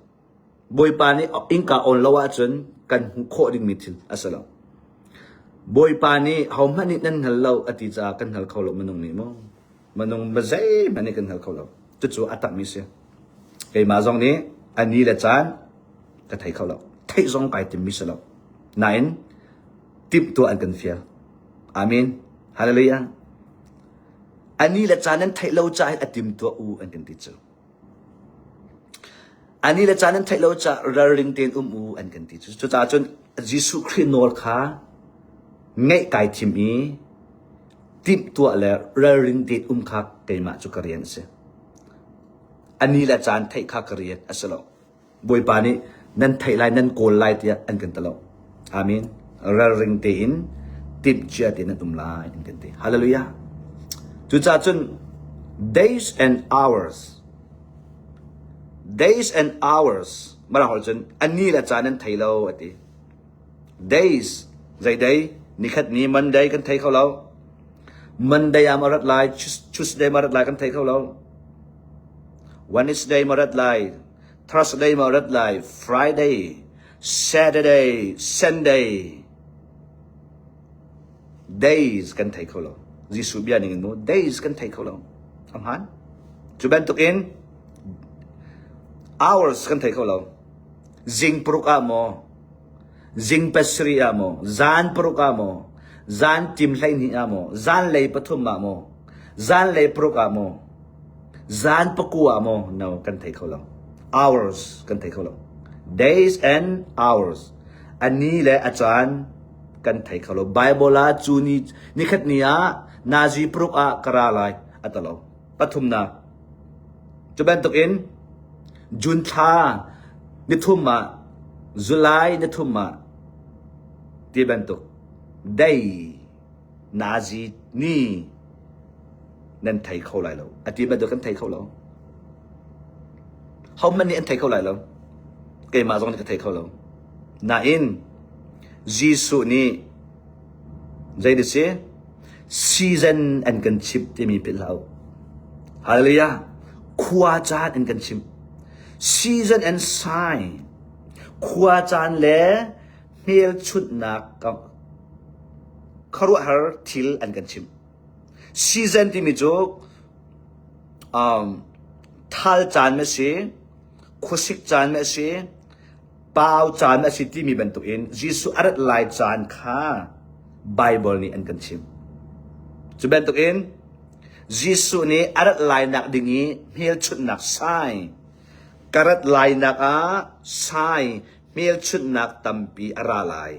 Bawipa nih innka awn lo ahcun kan hmuh khawh dingmi thil a si lo. Bawipa nih hohmanh nih nan hngal lo a ti caah kan hngal kho lo minung nih maw? Minung ma zeihmanh nih kan hngal kho lo. Cucu a takmi si. Keimah zong nih a ni le caan ka thei kho lo. Theih zong kai timmi si lo. Nain timhtuah an kan fial. Amen. Hallelujah. A ni le caan nan theih lo caah a timtuah u an kan ti cu. A ni le caan an theih lo caah ralring tein um u an kan ti. Cucaah cun Jesuh Khrih nawl kha ngaih kai thim i timh tuah le ralrin tein um kha keimah cu ka rian a si. A ni le caan theih kha ka riat a si lo. Bawipa nih nan theih lai nan kawl lai tiah an kan ti lo. Amen. Ralring tein timhcia tein an um lai an kan ti. Hallelujah. Cucaah cun days and hours days and hours mara hol cun ani la caan an thei lo ati days zai dai nikhat ni monday kan thei kho lo monday am arat lai tuesday marat lai kan thei kho lo wednesday marat lai Thursday maw rat lai? Friday, Saturday, Sunday. Days kan thei kho lo. Jesuh bia ning in mu days kan thei kho lo. A hmaan. Cu bantukin hours kan thei kho lo. Zing paruk ah maw Zing pasarih ah maw, zan paruk ah maw, zan tim hleihnih ah maw, zanlei pathum ah maw, zanlei paruk ah maw, zan paku ah maw, no kan thei kho lo. Hours kan thei kho lo. Days and hours. A ni le a caan kan thei kho lo. Bible ah cu ni nikhat ni ah nazi paruk ah ka ra lai atalo. pathumnak cu bantukin June thla nithum ah July nithum ah ti bantuk dei nazi ni nan thei kho lai lo a ti bantuk kan thei kho lo homan nih an thei kho lai lo keimah zong nih ka thei kho lo nain Jesuh nih Zei na si? Season an kan chimh timi philh hlah u. Hallelujah! Khua caan an kan chimh. Season and sign. Khua caan le hmelchunhnak kharuahhar thil an kan chimh. Season timi cu um, thal caan ma si, khuasik caan ma si, pau caan a si timi bantukin Jesuh a rat lai caan kha Baibal nih an kan chim. Cu bantukin Jesuh nih a rat lainak ding i hmelchunhnak sai ka rat lainak ah sai hmelchunhnak tampi a ra lai.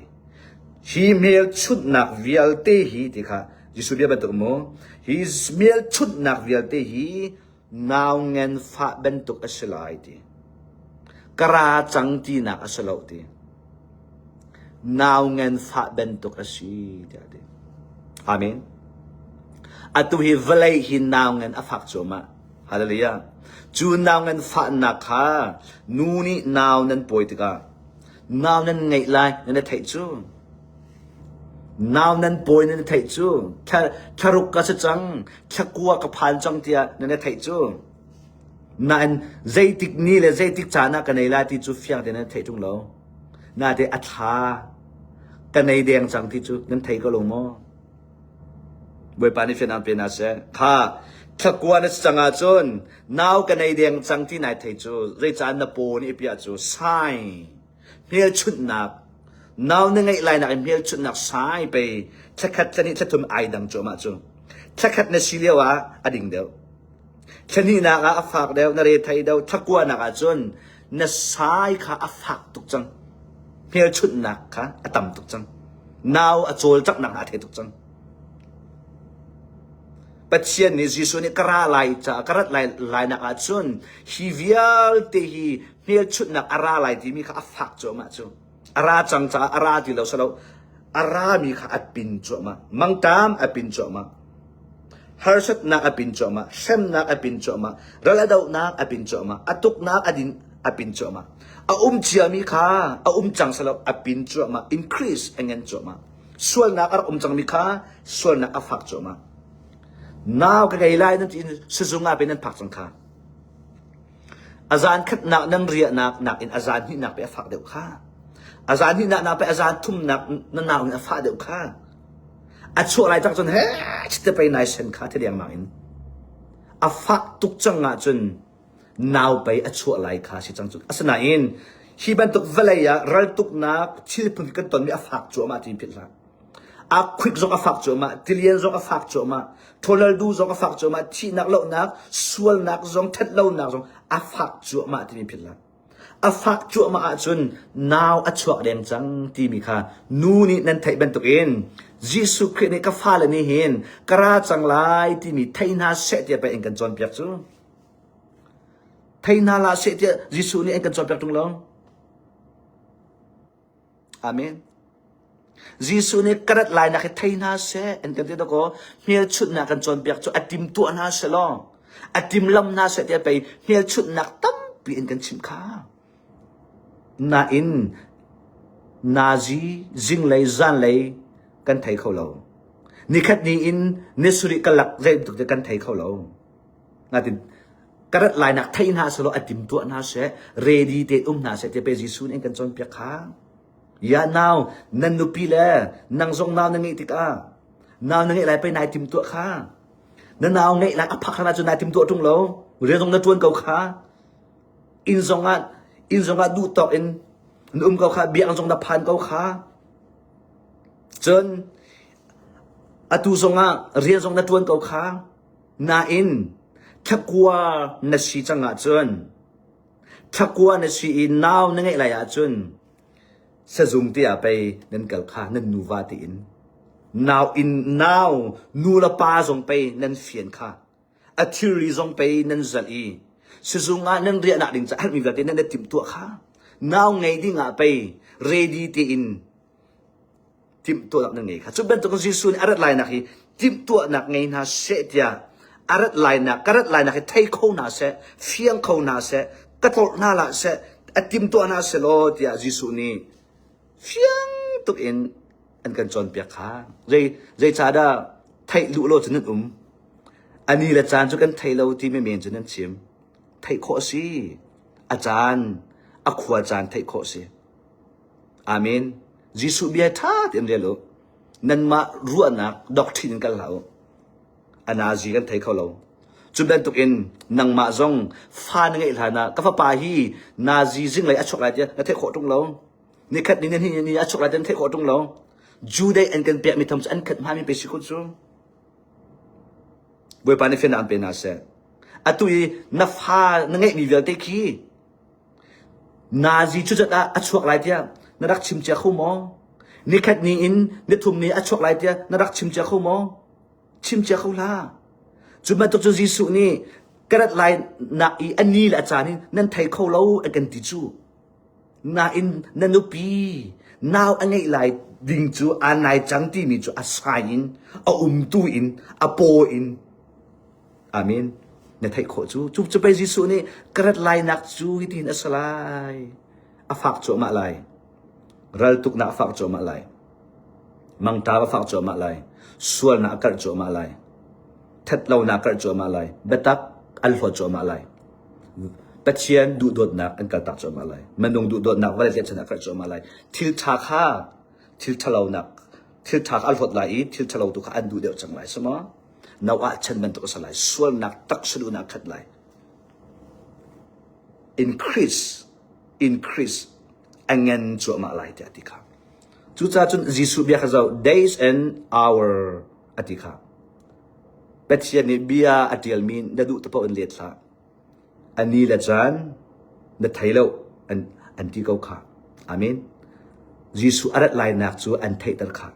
Hi hmelchunhnak vialte hi ti kha Jesuh bia bantuk mu hi hmelchunhnak vialte hi nau ngenfah bantuk a si lai ti ka ra cang tinak a si lo ti nau ngenfah bantuk a si tiah ti amen atu hi vawlei hi nau ngen a fak cuahmah hallelujah cu nau ngen fahnak kha nu nih nau nan pawi tikah nau nan ngeih lai nan i theih cu Nau nan pawi nan i theih cu thlaruk ka si cang, thlakua ka phan cang tiah nan i theih cu. Nain zeitik ni le zeitik caan ah ka nei lai ti cu fiang tein nan i theih ṭung lo. Naite a thla ka nei deng cang ti cu nan thei ko lo maw? Bawipa nih fianang pe hna seh. Kha thlakua na si cang ahcun nau ka nei deng cang ti nai thei cu zei caan na paw nih a piah cu sai Hmelchunhnak Nau na ngeih lai nak in hmelchunhnak sai pei thlakhat thlahnih thlathum ai dang cuahmah cu. Thlakhat na si lio ah a ding deuh. Thlanihnak ah a fak deuh na re thai deuh thlakuahnak ah cun na sai kha a fak tuk cang. Hmelchunhnak kha a tam tuk cang. Nau a cawlcanghnak ah a thei tuk cang. Pathian nih Jesuh nih ka ra lai ca ka rat lai lai nak ah cun hi vialte hi hmelchunhnak a ra lai timi kha a fak cuahmah cu a ra cang caah a ra ti lo salo a rami kha a pin cuahmah mangtam a pin cuahmah harsatnak a pin cuahmah hremnak a pin cuahmah ral a dohnak a pin cuahmah a tuknak a din a pin cuahmah a um ciami kha a um cang salo a pin cuahmah increase a ngen cuahmah sualnak a rak um cangmi kha sualnak a fak cuahmah nau ka gei lai nan ti in sizung ah ben nan phak cang kha A zaankhatnak nan riahnak nakin a zaan hnihnak pei a fak deuh kha. A zaan hnihnak nak pei a zaan thumnak na nau in a fah deuh kha. A chuah lai tak cun he te pei nai sen kha te dengmang in. A fah tuk cang ah cun nau pei a chuah lai kha si cang cun. Asinain hi bantuk vawlei ah ral tuknak thil phun kan tonmi a fak cuahmah ti pit hlah. Aa khuik zong a fak cuahmah, tilian zong a fak cuahmah, thawlaldu zong a fak cuahmah, thihnak lonak, sualnak zong, ṭhatlonak zong a fak cuahmah timi philh hlah. A fak cuahmah ahcun nau a chuak deng cang timi kha nu nih nan theih bantukin Jesuh Khrih nih ka fale nih hin ka ra cang lai timi thei hna seh tiah pei an kan cawnpiak cu. Thei hna la seh tiah Jesuh nih an kan cawnpiak ṭung lo. Amen. Jesuh nih ka rat lainak hi thei hna seh an kan ti dakaw hmelchunhnak kan cawnpiak cu a timtuah hna seh law a timlam hna seh tiah pei hmelchunhnak tampi in kan chim kha nain nazi zinglei zanlei kan thei kho lo nikhat ni in nesuri ka lak zei bantuk kan thei kho lo Ngatin ka rat lainak thei hna selaw a tim tuah hna seh ready te um hna seh tipe Jesuh nih kan cawn piak kha ya now nan nupi le nang zong nau na ngeih tikah nau na ngeih lai pei nai tim tuah kha na nau ngeih lai a phak hana cu nai tim tuah tung lo rian zong na tuan ko kha in zong ah in zong ah duh tawk in na um ko kha biang zong na phan ko kha cun atu zong ah rian zong na tuan ko kha Nain thlakua na si cang ahcun, thlakua na si i nau na ngeih lai ahcun, sazung te ah pei nan kal kha nan nuva tiin nau in nau nulepa zong pei nan fian kha a thilri zong pei nan zalh i sizung ah nan riahnak ding caah halmi vialte nan timtuah kha nau ngei dingah pei ready tein timhtuahnak na ngei kha cu bantukin Jesuh nih a rat lainak hi timhtuahnak ngei hna seh tiah a rat lainak ka rat lainak hi thei kho hna seh fiang kho hna seh ka tlawrh hna la seh a timtuah hna seh law tiah Jesuh nih fiang tuk in an kan cawnpiak kha zei zeicahdah theih luh lo cu nan um ani le caan cu kan thei lo ti me men cu nan chim theih khawh a si a caan a khua caan theih khawh a si Amen. Jesuh bia ṭha tein rel u. Nanmah ruahnak doctrine in kal hlah u. A nazi kan thei kho lo. Cu bantukin nangmah zong fa na ngeih hlan ah ka fapa hi nazi zinglei a chuak lai tiah na theih khawh ṭung lo. Nikhat ni ni ni a chuak lai tiah na theih khawh ṭung lo. Judai an kan piahmi thawng cu an khat hngami pe si kun cu. Bawipa nih fian an pe hna seh. Atu i na fa na ngeihmi vialte khi Nazi cucat ah a chuak lai tiah na rak chim cia kho maw? Nikhat ni in nithum ni a chuak lai tiah na rak chim cia kho maw? Chim cia kho hlah. Cu bantuk cu Jesuh nih ka rat lai nak i a ni le a caan in nan thei kho lo a kan ti cu. Nain na nupi nau a ngeih lai ding cu aan nai cang timi cu a sign in a umtu in a paw in Amen. Na theih khawh cu cu cu pei Jesuh nih ka rat lainak cu hitin a si lai. A fak cuahmah lai. Ral tuknak a fak cuahmah lai. Mangta a fak cuahmah lai. Sualnak a karh cuahmah lai. Thatlonak a karh cuahmah lai. Biatak an hlawt cuahmah lai. Pathian duhdawtnak an kaltak cuahmah lai. Minung duhdawtnak vale zetchan a karh cuahmah lai. Thil tha kha thil thalonak thil tha kha an hlawt lai i thil thalo tu kha an duh deuh cang lai. Sema no ah chan bantuk a ser lai sualnak tak salun ah khat lai increase increase angen cuahmah lai tiah ti kha cuca cun Jesuh bia kha zau days and hour ati kha Pathian nih bia a tialmi na duh tapo in let hlah An ni le caan na thei lo an ti ko khah. Amen. Jesuh a rat lainak cu an theihter khah.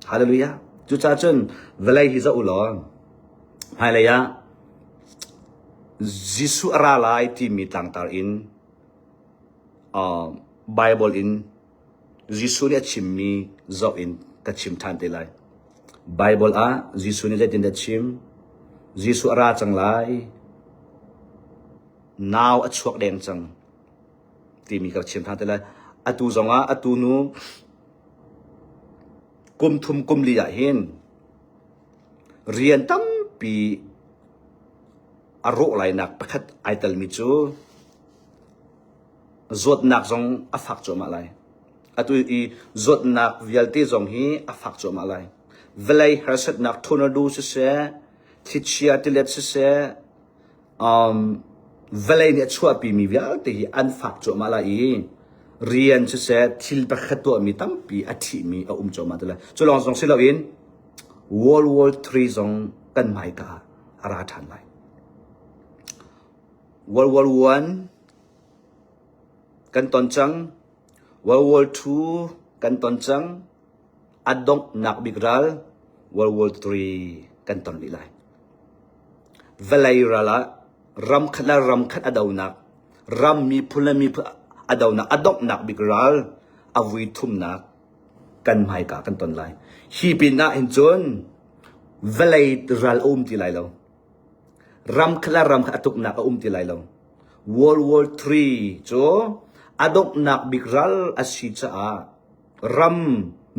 Hallelujah. Cucaah cun vawlei hi zoh u law hmailei ah Jesuh a ra lai timi tlangtar in Baibal in Jesuh nih a chimmi zoh in ka chim ṭhan te lai. Baibal ah Jesuh nih zeitindah a chim? Jesuh a ra cang lai. Nau a chuak deng cang timi ka chim ṭhan te lai. Atu zongah atu nu kum thum kum li ah hin rian tampi a rawh lainak pakhat ai telmi cu zawtnak zong a fak cuahmah lai. Atu i zawtnak vialte zong hi a fak cuahmah lai. Vawlei harsatnak tornado siseh, thlichia tilet siseh, um, vawlei nih a chuahpimi vialte hi an fak cuahmah lai i rian siseh thil pakhat tuahmi tampi a thihmi a um cuahmah te lai. Cu lawng zong si loin World War III zong kan hmaika a ra ṭhan lai. World War One Kan ton cang. World War II kan ton cang. A donghnak bik ral World War III kan ton rih lai. Vawlei ral ah ramkhat le ramkhat a donak, ram miphun le miphun a donak, a donghnak bik ral a vui thumnak kan hmaika kan ton lai. Hi pinah hin cun vawlei ral a um ti lai lo. Ram kha le ram kha a tuknak a um ti lai lo. World War III cu a donghnak bik ral a si caah ram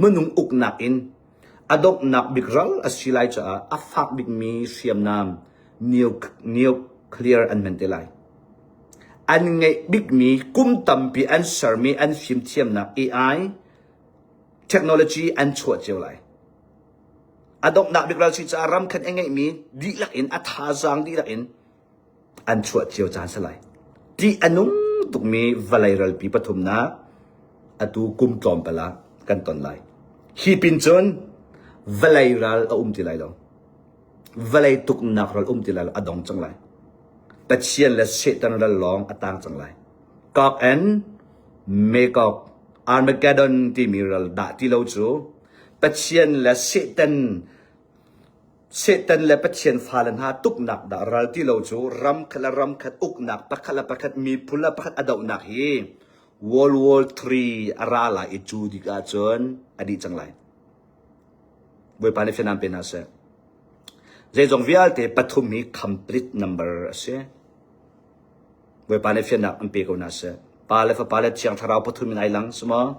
minung uknak in a donghnak bik ral a si lai caah a fak bikmi hriamnam nuclear an hman te lai. An ngeih bikmi kum tampi an sermi an fimthiamnak AI technology an chuah cio lai. A donghnak bik ralchih caah ramkhat i ngeihmi dihlak in a thazaang dihlak in an chuah cio caan salai. Tih a nung tukmi valei ralpi pathumnak atu kum tlawmpala kan ton lai. Hi pin cun valei ral a um ti lai lo. Valei tuknak ral um ti lai lo a dong cang lai. Pathian le Satan ral lawng a tang cang lai. Kok and Mekok Armageddon timi ral dah ti lo cu Pathian le Satan Satan le Pathian fale hna tuknak dah ral ti lo cu ramkhat le ramkhat uknak pakhat le pakhat miphun le pakhat a dohnak hi World War III a ra lai i cu dik ahcun a dih cang lai. Bawipa nih fianam pe hna seh. Zeizong vialte pathum hi complete number a si. Bawipa nih fiannak an pe ko hna seh. Pa le fapa le thiang thlarau pathum in ai lang, si maw?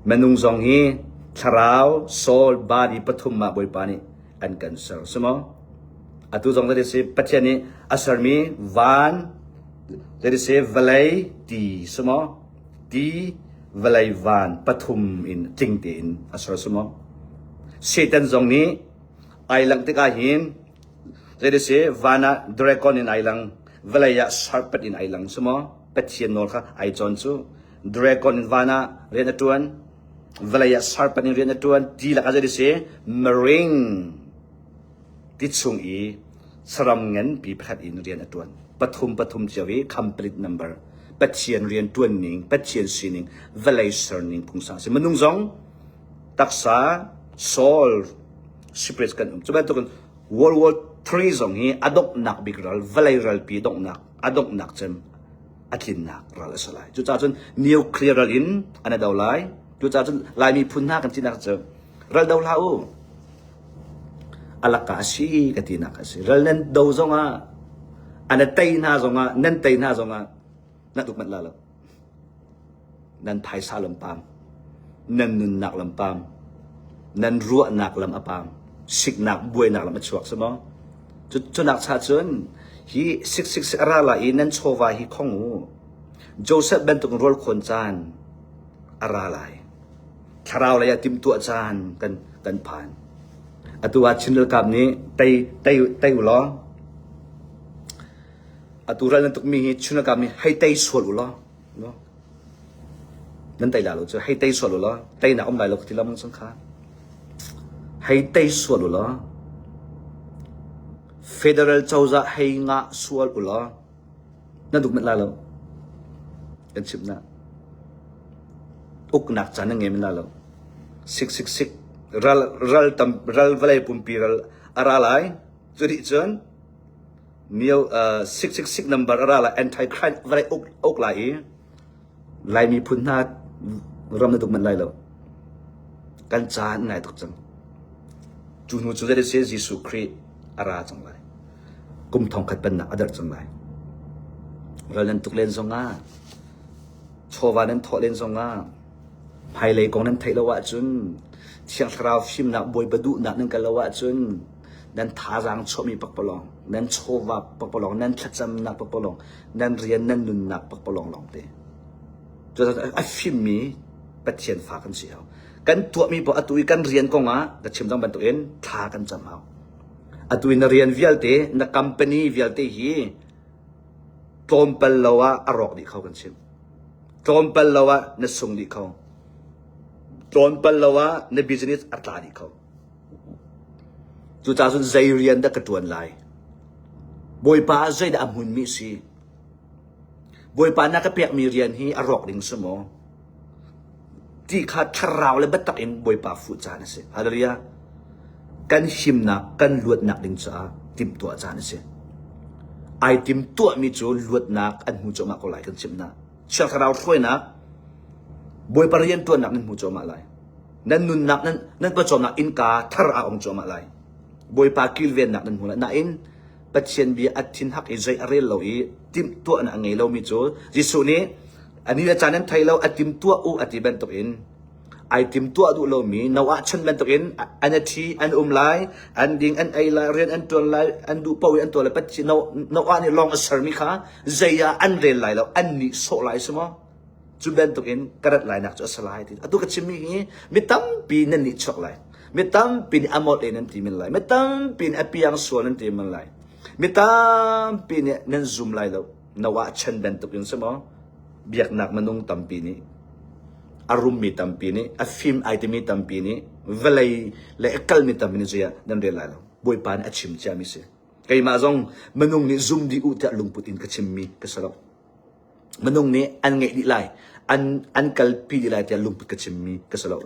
Minung zong hi thlarau, soul, body pathum ah Bawipa nih an kan ser, si maw? Atu zong that si Pathian nih a sermi van, that si vawlei ti, si maw? Ti, vawlei van pathum in tling tein a ser, si maw? Satan zong nih ai langh tikah hin Zeidese van ah dragon in ai lang, vawlei ah serpent in ai lang cu maw? Pathian nawl kha ai cawn cu. Dragon in van ah rian a ṭuan, vawlei ah serpent in rian a ṭuan ti lakah zeidese marine ti chung i saram nganpi pakhat in rian a ṭuan. Pathum pathum cio i complete number Pathian rian ṭuan ning, Pathian sining, vawlei serning phungsa a si. Minung zong taksa soul spirits kan um. Cu bantukin World War III zong hi a donghnak bik ral, vawlei ralpi donghnak, a donghnak cem a tlinnak ral a si lai. Cucaah cun nuclear ral in an a do lai. Cucaah cun Lai miphun hna kan sinak cu ral do hlah u. Alaka a si ka tinak a si. Ral nan do zongah, an a tei hna zongah, nan tei hna zongah, na tuk manh la lo. Nan phaisa lam paam, nan nunnak lam paam, nan ruahnak lam a paam, siknak buainak lam a chuak si maw? Cunak cha cun hi siksik a ra lai i nan chawva hi khong u. Joseph bantuk in rawl khawn caan a ra lai. Thlarau lei ah timtuah caan kan kan phan. Atu ah Chin Ralkap nih tei tei tei u law Atu ral nan tukmi hi Chunakam hi hei tei sual u law nan tei la lo cu hei tei sual u law tei na um lai lo ka ti lo mang kha hei tei sual u law federal cozah hei ngah sual u law nan duk met lai lo kan chim na uknak chan na ngem na lo sik sik sik ral ral tam ral vale pumpi ral ara lai curi cun mio uh, 666 number ara la anti crime varai uk uk la i lai mi phun hna ram na duk man lai lo kan caan ngai tuk cang cu hnu cu zai se Jesu Christ ara chang lai kum thong khat pan na adar chang lai ral nan tuk len zong ah chawva nan thawh len zong ah hmailei kong nan theih lo ah cun thiang thlarau fim nak bawi badu nak nan kal lo ah cun nan thazaang chuahmi pakpalawng, nan chawva pakpalawng, nan thlacamnak pakpalawng, nan rian nan nunnak pakpalawng lawng te. Cu a fimmi Pathian fa kan si hau. Kan tuahmi paoh atu i kan rian kongah na chim dang bantukin thla kan cam hau. Atu i na rian vialte, na company vialte hi tlawmpal lo ah a rawk dih kho kan chim. Tlawmpal lo ah na sung dih kho. Tlawmpal lo ah na business a tla dih kho. Cucacun zei rian dah ka ṭuan lai? Bawipa ah zeidah a hmunmi a si? Bawipa na ka pekmi rian hi a rawk ding si maw? Ti kha thlarau le biatak in Bawipa fuh caan a si. Hallelujah! Kan himnak, kan luatnak ding caah timhtuah caan a si. Ai timtuahmi cu luatnak an hnu cungah ko lai kan chimh hna. Thiang Thlarau hruainak Bawipa rianṭuannak nan hmu cuahmah lai. Nan nunnak nan nan pawcawmnak innka thar a ong cuahmah lai. Bawipa kilvennak nan hmu lai. Nain Pathian bia a thin hak i zei a rel lo i timh tuahnak a ngei lomi cu Jesuh nih ani a caan nan thei lo a tim tuah u a ti bantukin Ai tim tuah duh lomi no ah chan bantukin an i ṭhi an um lai. An ding an ei lai, rian an ṭuan lai, an duh paoh i an tuah lai. Pathian no ah nih lawng a sermi kha zei ah an rel lai lo, an nihsawh lai si maw? Cu bantukin ka rat lainak cu a si lai. Atu ka chimmi hi mi tampi nan nihchuak lai. Mi tampi nih a mawt in an ti men lai. Mi tampi nih a piang sual an ti men lai. Mi tampi nih nan zum lai lo. na wahchan bantuk in si maw biaknak minung tampi nih a rummi tampi nih a fim ai timi tampi nih vawlei le a kalmi tampi nih zuiah nan rel lai lo bawipa nih a chim ciami si keimah zong minung nih zum dih u tiah lungput in ka chimmi ka si lo minung nih an ngeih dih lai an an kalpi dih lai tiah lungput ka chimmi ka si lo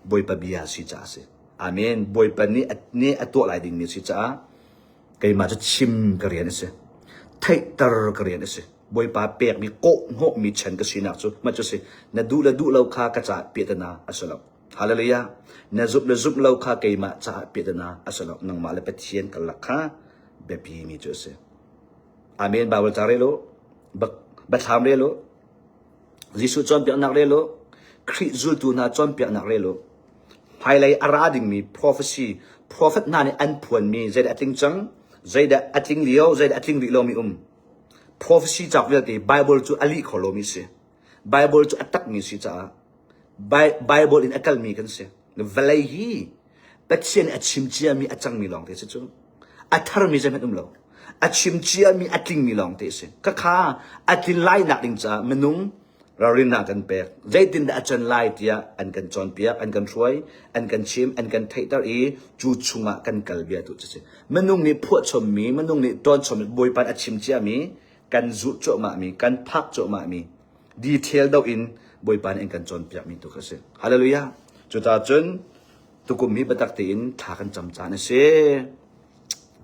bawipa bia si caah si amen bawipa nih nih a tuah lai dingmi si caah keimah cu chim ka rian a si. Theihter ka rian a si. Bawipa pekmi kawhhnawhmi chan ka sinak cu mah cu si. Na duh le duh lo kha ka caah piatana a si lo. Hallelujah. Na zumh le zumh lo kha keimah caah piatana a si lo. Nangmah le Pathian karlak kha biapimi cu a si. Amen. Bible ca re law, bathlam re law, Jesuh cawnpiaknak re law, Khrih zultu hna cawnpiaknak re law, Hmailei a ra dingmi profesi profet hna nih an phuanmi zeidah a tling cang? Zeidah a tling lio, zeidah a tling rih lomi um? Profesi cauk vialte Baibal cu a lih kho lomi si. Baibal cu a takmi si caah Baibal in a kalmi kan si. Vawlei hi Pathian nih a chim ciami a cangmi lawngte si cu. A tharmi zeihmanh um lo. A chim ciami a tlingmi lawng te a si. Khakha a tlin lainak ding caah minung ralrinnak kan pek. Zeitindah a can lai tiah an kan cawnpiak, an kan hruai, an kan chim, an kan theihter i cu chungah kan kal bia tu cu si. Minung nih phuahchommi, minung nih tonchommi, bawipan a chim ciami, kan zulh cuahmahmi, kan phak cuahmahmi, detail do in bawipa nih an kan cawnpiakmi tu kha si. Hallelujah. Cuta cun tukum hi biatak tein thla kan cam caan a si.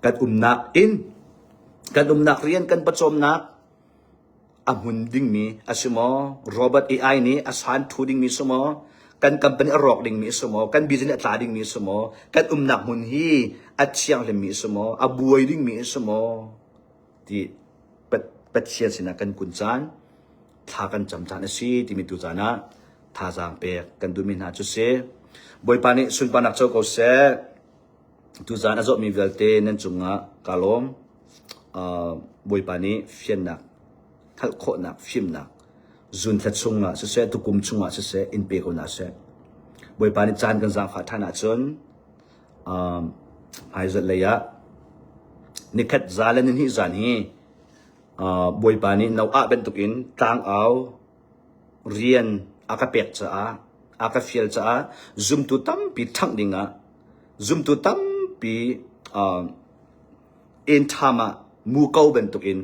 Kan umnak inn, kan umnak rian, kan pawcawmnak a hmun dingmi a si maw? Robot AI nih a san thu dingmi si maw? kan company a rawk dingmi si maw kan business a tla dingmi si maw kan umnak hmun hi a thianghlimmi si maw a buai dingmi si maw ti Pathian sinah kan kun caan thla kan cam caan a si timi tu caan ah thazaang pek kan duhmi hna cu si. Bawipa nih sunparnak co ko seh. Tu zaan a zawhmi vialte nan cungah ka lawm. Uh, Bawipa nih fiannak, hngalh khawhnak, fimnak zunthla chungah siseh, tukum chungah siseh, in pe ko na seh. Bawipa nih caan kan zaangfah ṭhan ahcun Hmaizat lei ah nikhat za le nihnih zan hi Bawipa nih no ah bantuk in tlangau rian a ka pek caah a ka fial caah zumtu tampi ṭhangh ding ah zumtu tampi inn ṭham ah muko bantuk in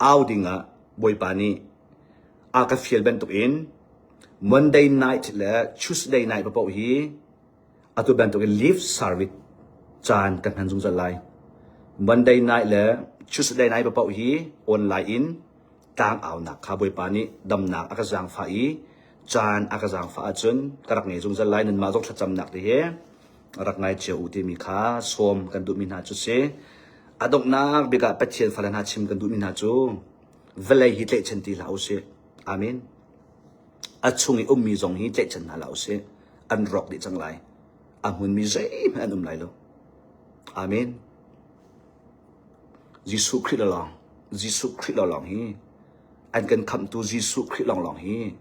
au ding ah Bawipa nih a ka fial bantuk in Monday night le Tuesday night paoh hi atu bantukin leave service caan kan hman zungzal lai. Monday night le Tuesday night paoh hi online in tlang aunak kha Bawipa nih damnak a ka zaangfah i caan a ka zaangfah ahcun ka rak ngei zungzal lai nanmah zong thlacamnak ti hi rak ngai cio u timi kha sawm kan duhmi hna cu si. A donghnak bikah Pathian fale hna chim kan duhmi hna cu vawlei hi tlaihchan ti hlah u sih. Amen. A chung i ummi zong hi tlaihchan hna hlah usih. An rawk dih cang lai. A hmunmi zeihmanh an um lai lo. Amen. Jesuh Khrih lawng, Jesuh Khrih lawng hi an kan khamtu Jesuh Khrih lawnglawng hi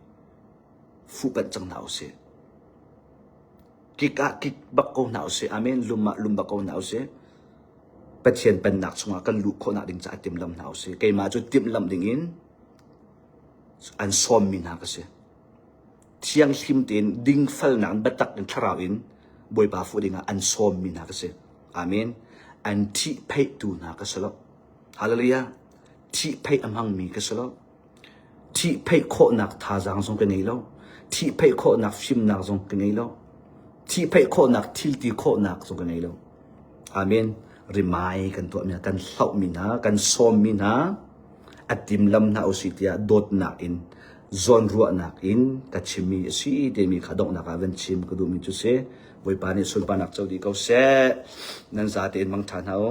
fuhpanh cang hna usih. Kik ah kik bak ko hna usih. Amen. Lum ah lum bak ko hna usih. Pathian pannak chungah kan luh khawhnak ding caah timlam hna usih. Keimah cu timlam ding in an sawmmi hna ka si. Thianghlim tein dingfalnak in biatak in thlarau in Bawipa fuh dingah an sawmmi hna ka si. Amen. An thihpheihtu hna ka si lo. Hallelujah. Thihpheih a hmangmi ka si lo. Thihpheih khawhnak thazaang zong ka ngei lo. Thihpheih khawhnak fimnak zong ka ngei lo. Thihpheih khawhnak thilti khawhnak zong ka ngei lo. Amen. Rimai kan tuahmi hna, kan hlauhmi hna, kan sawmmi hna, a timlam hna usih tiah dawtnak in zawnruahnak in ka chimmi a si timi kha donghnak ah van chim ka duhmi cu si. Bawipa nih sunparnak co dih ko seh. Nan za tein mang ṭha hna u.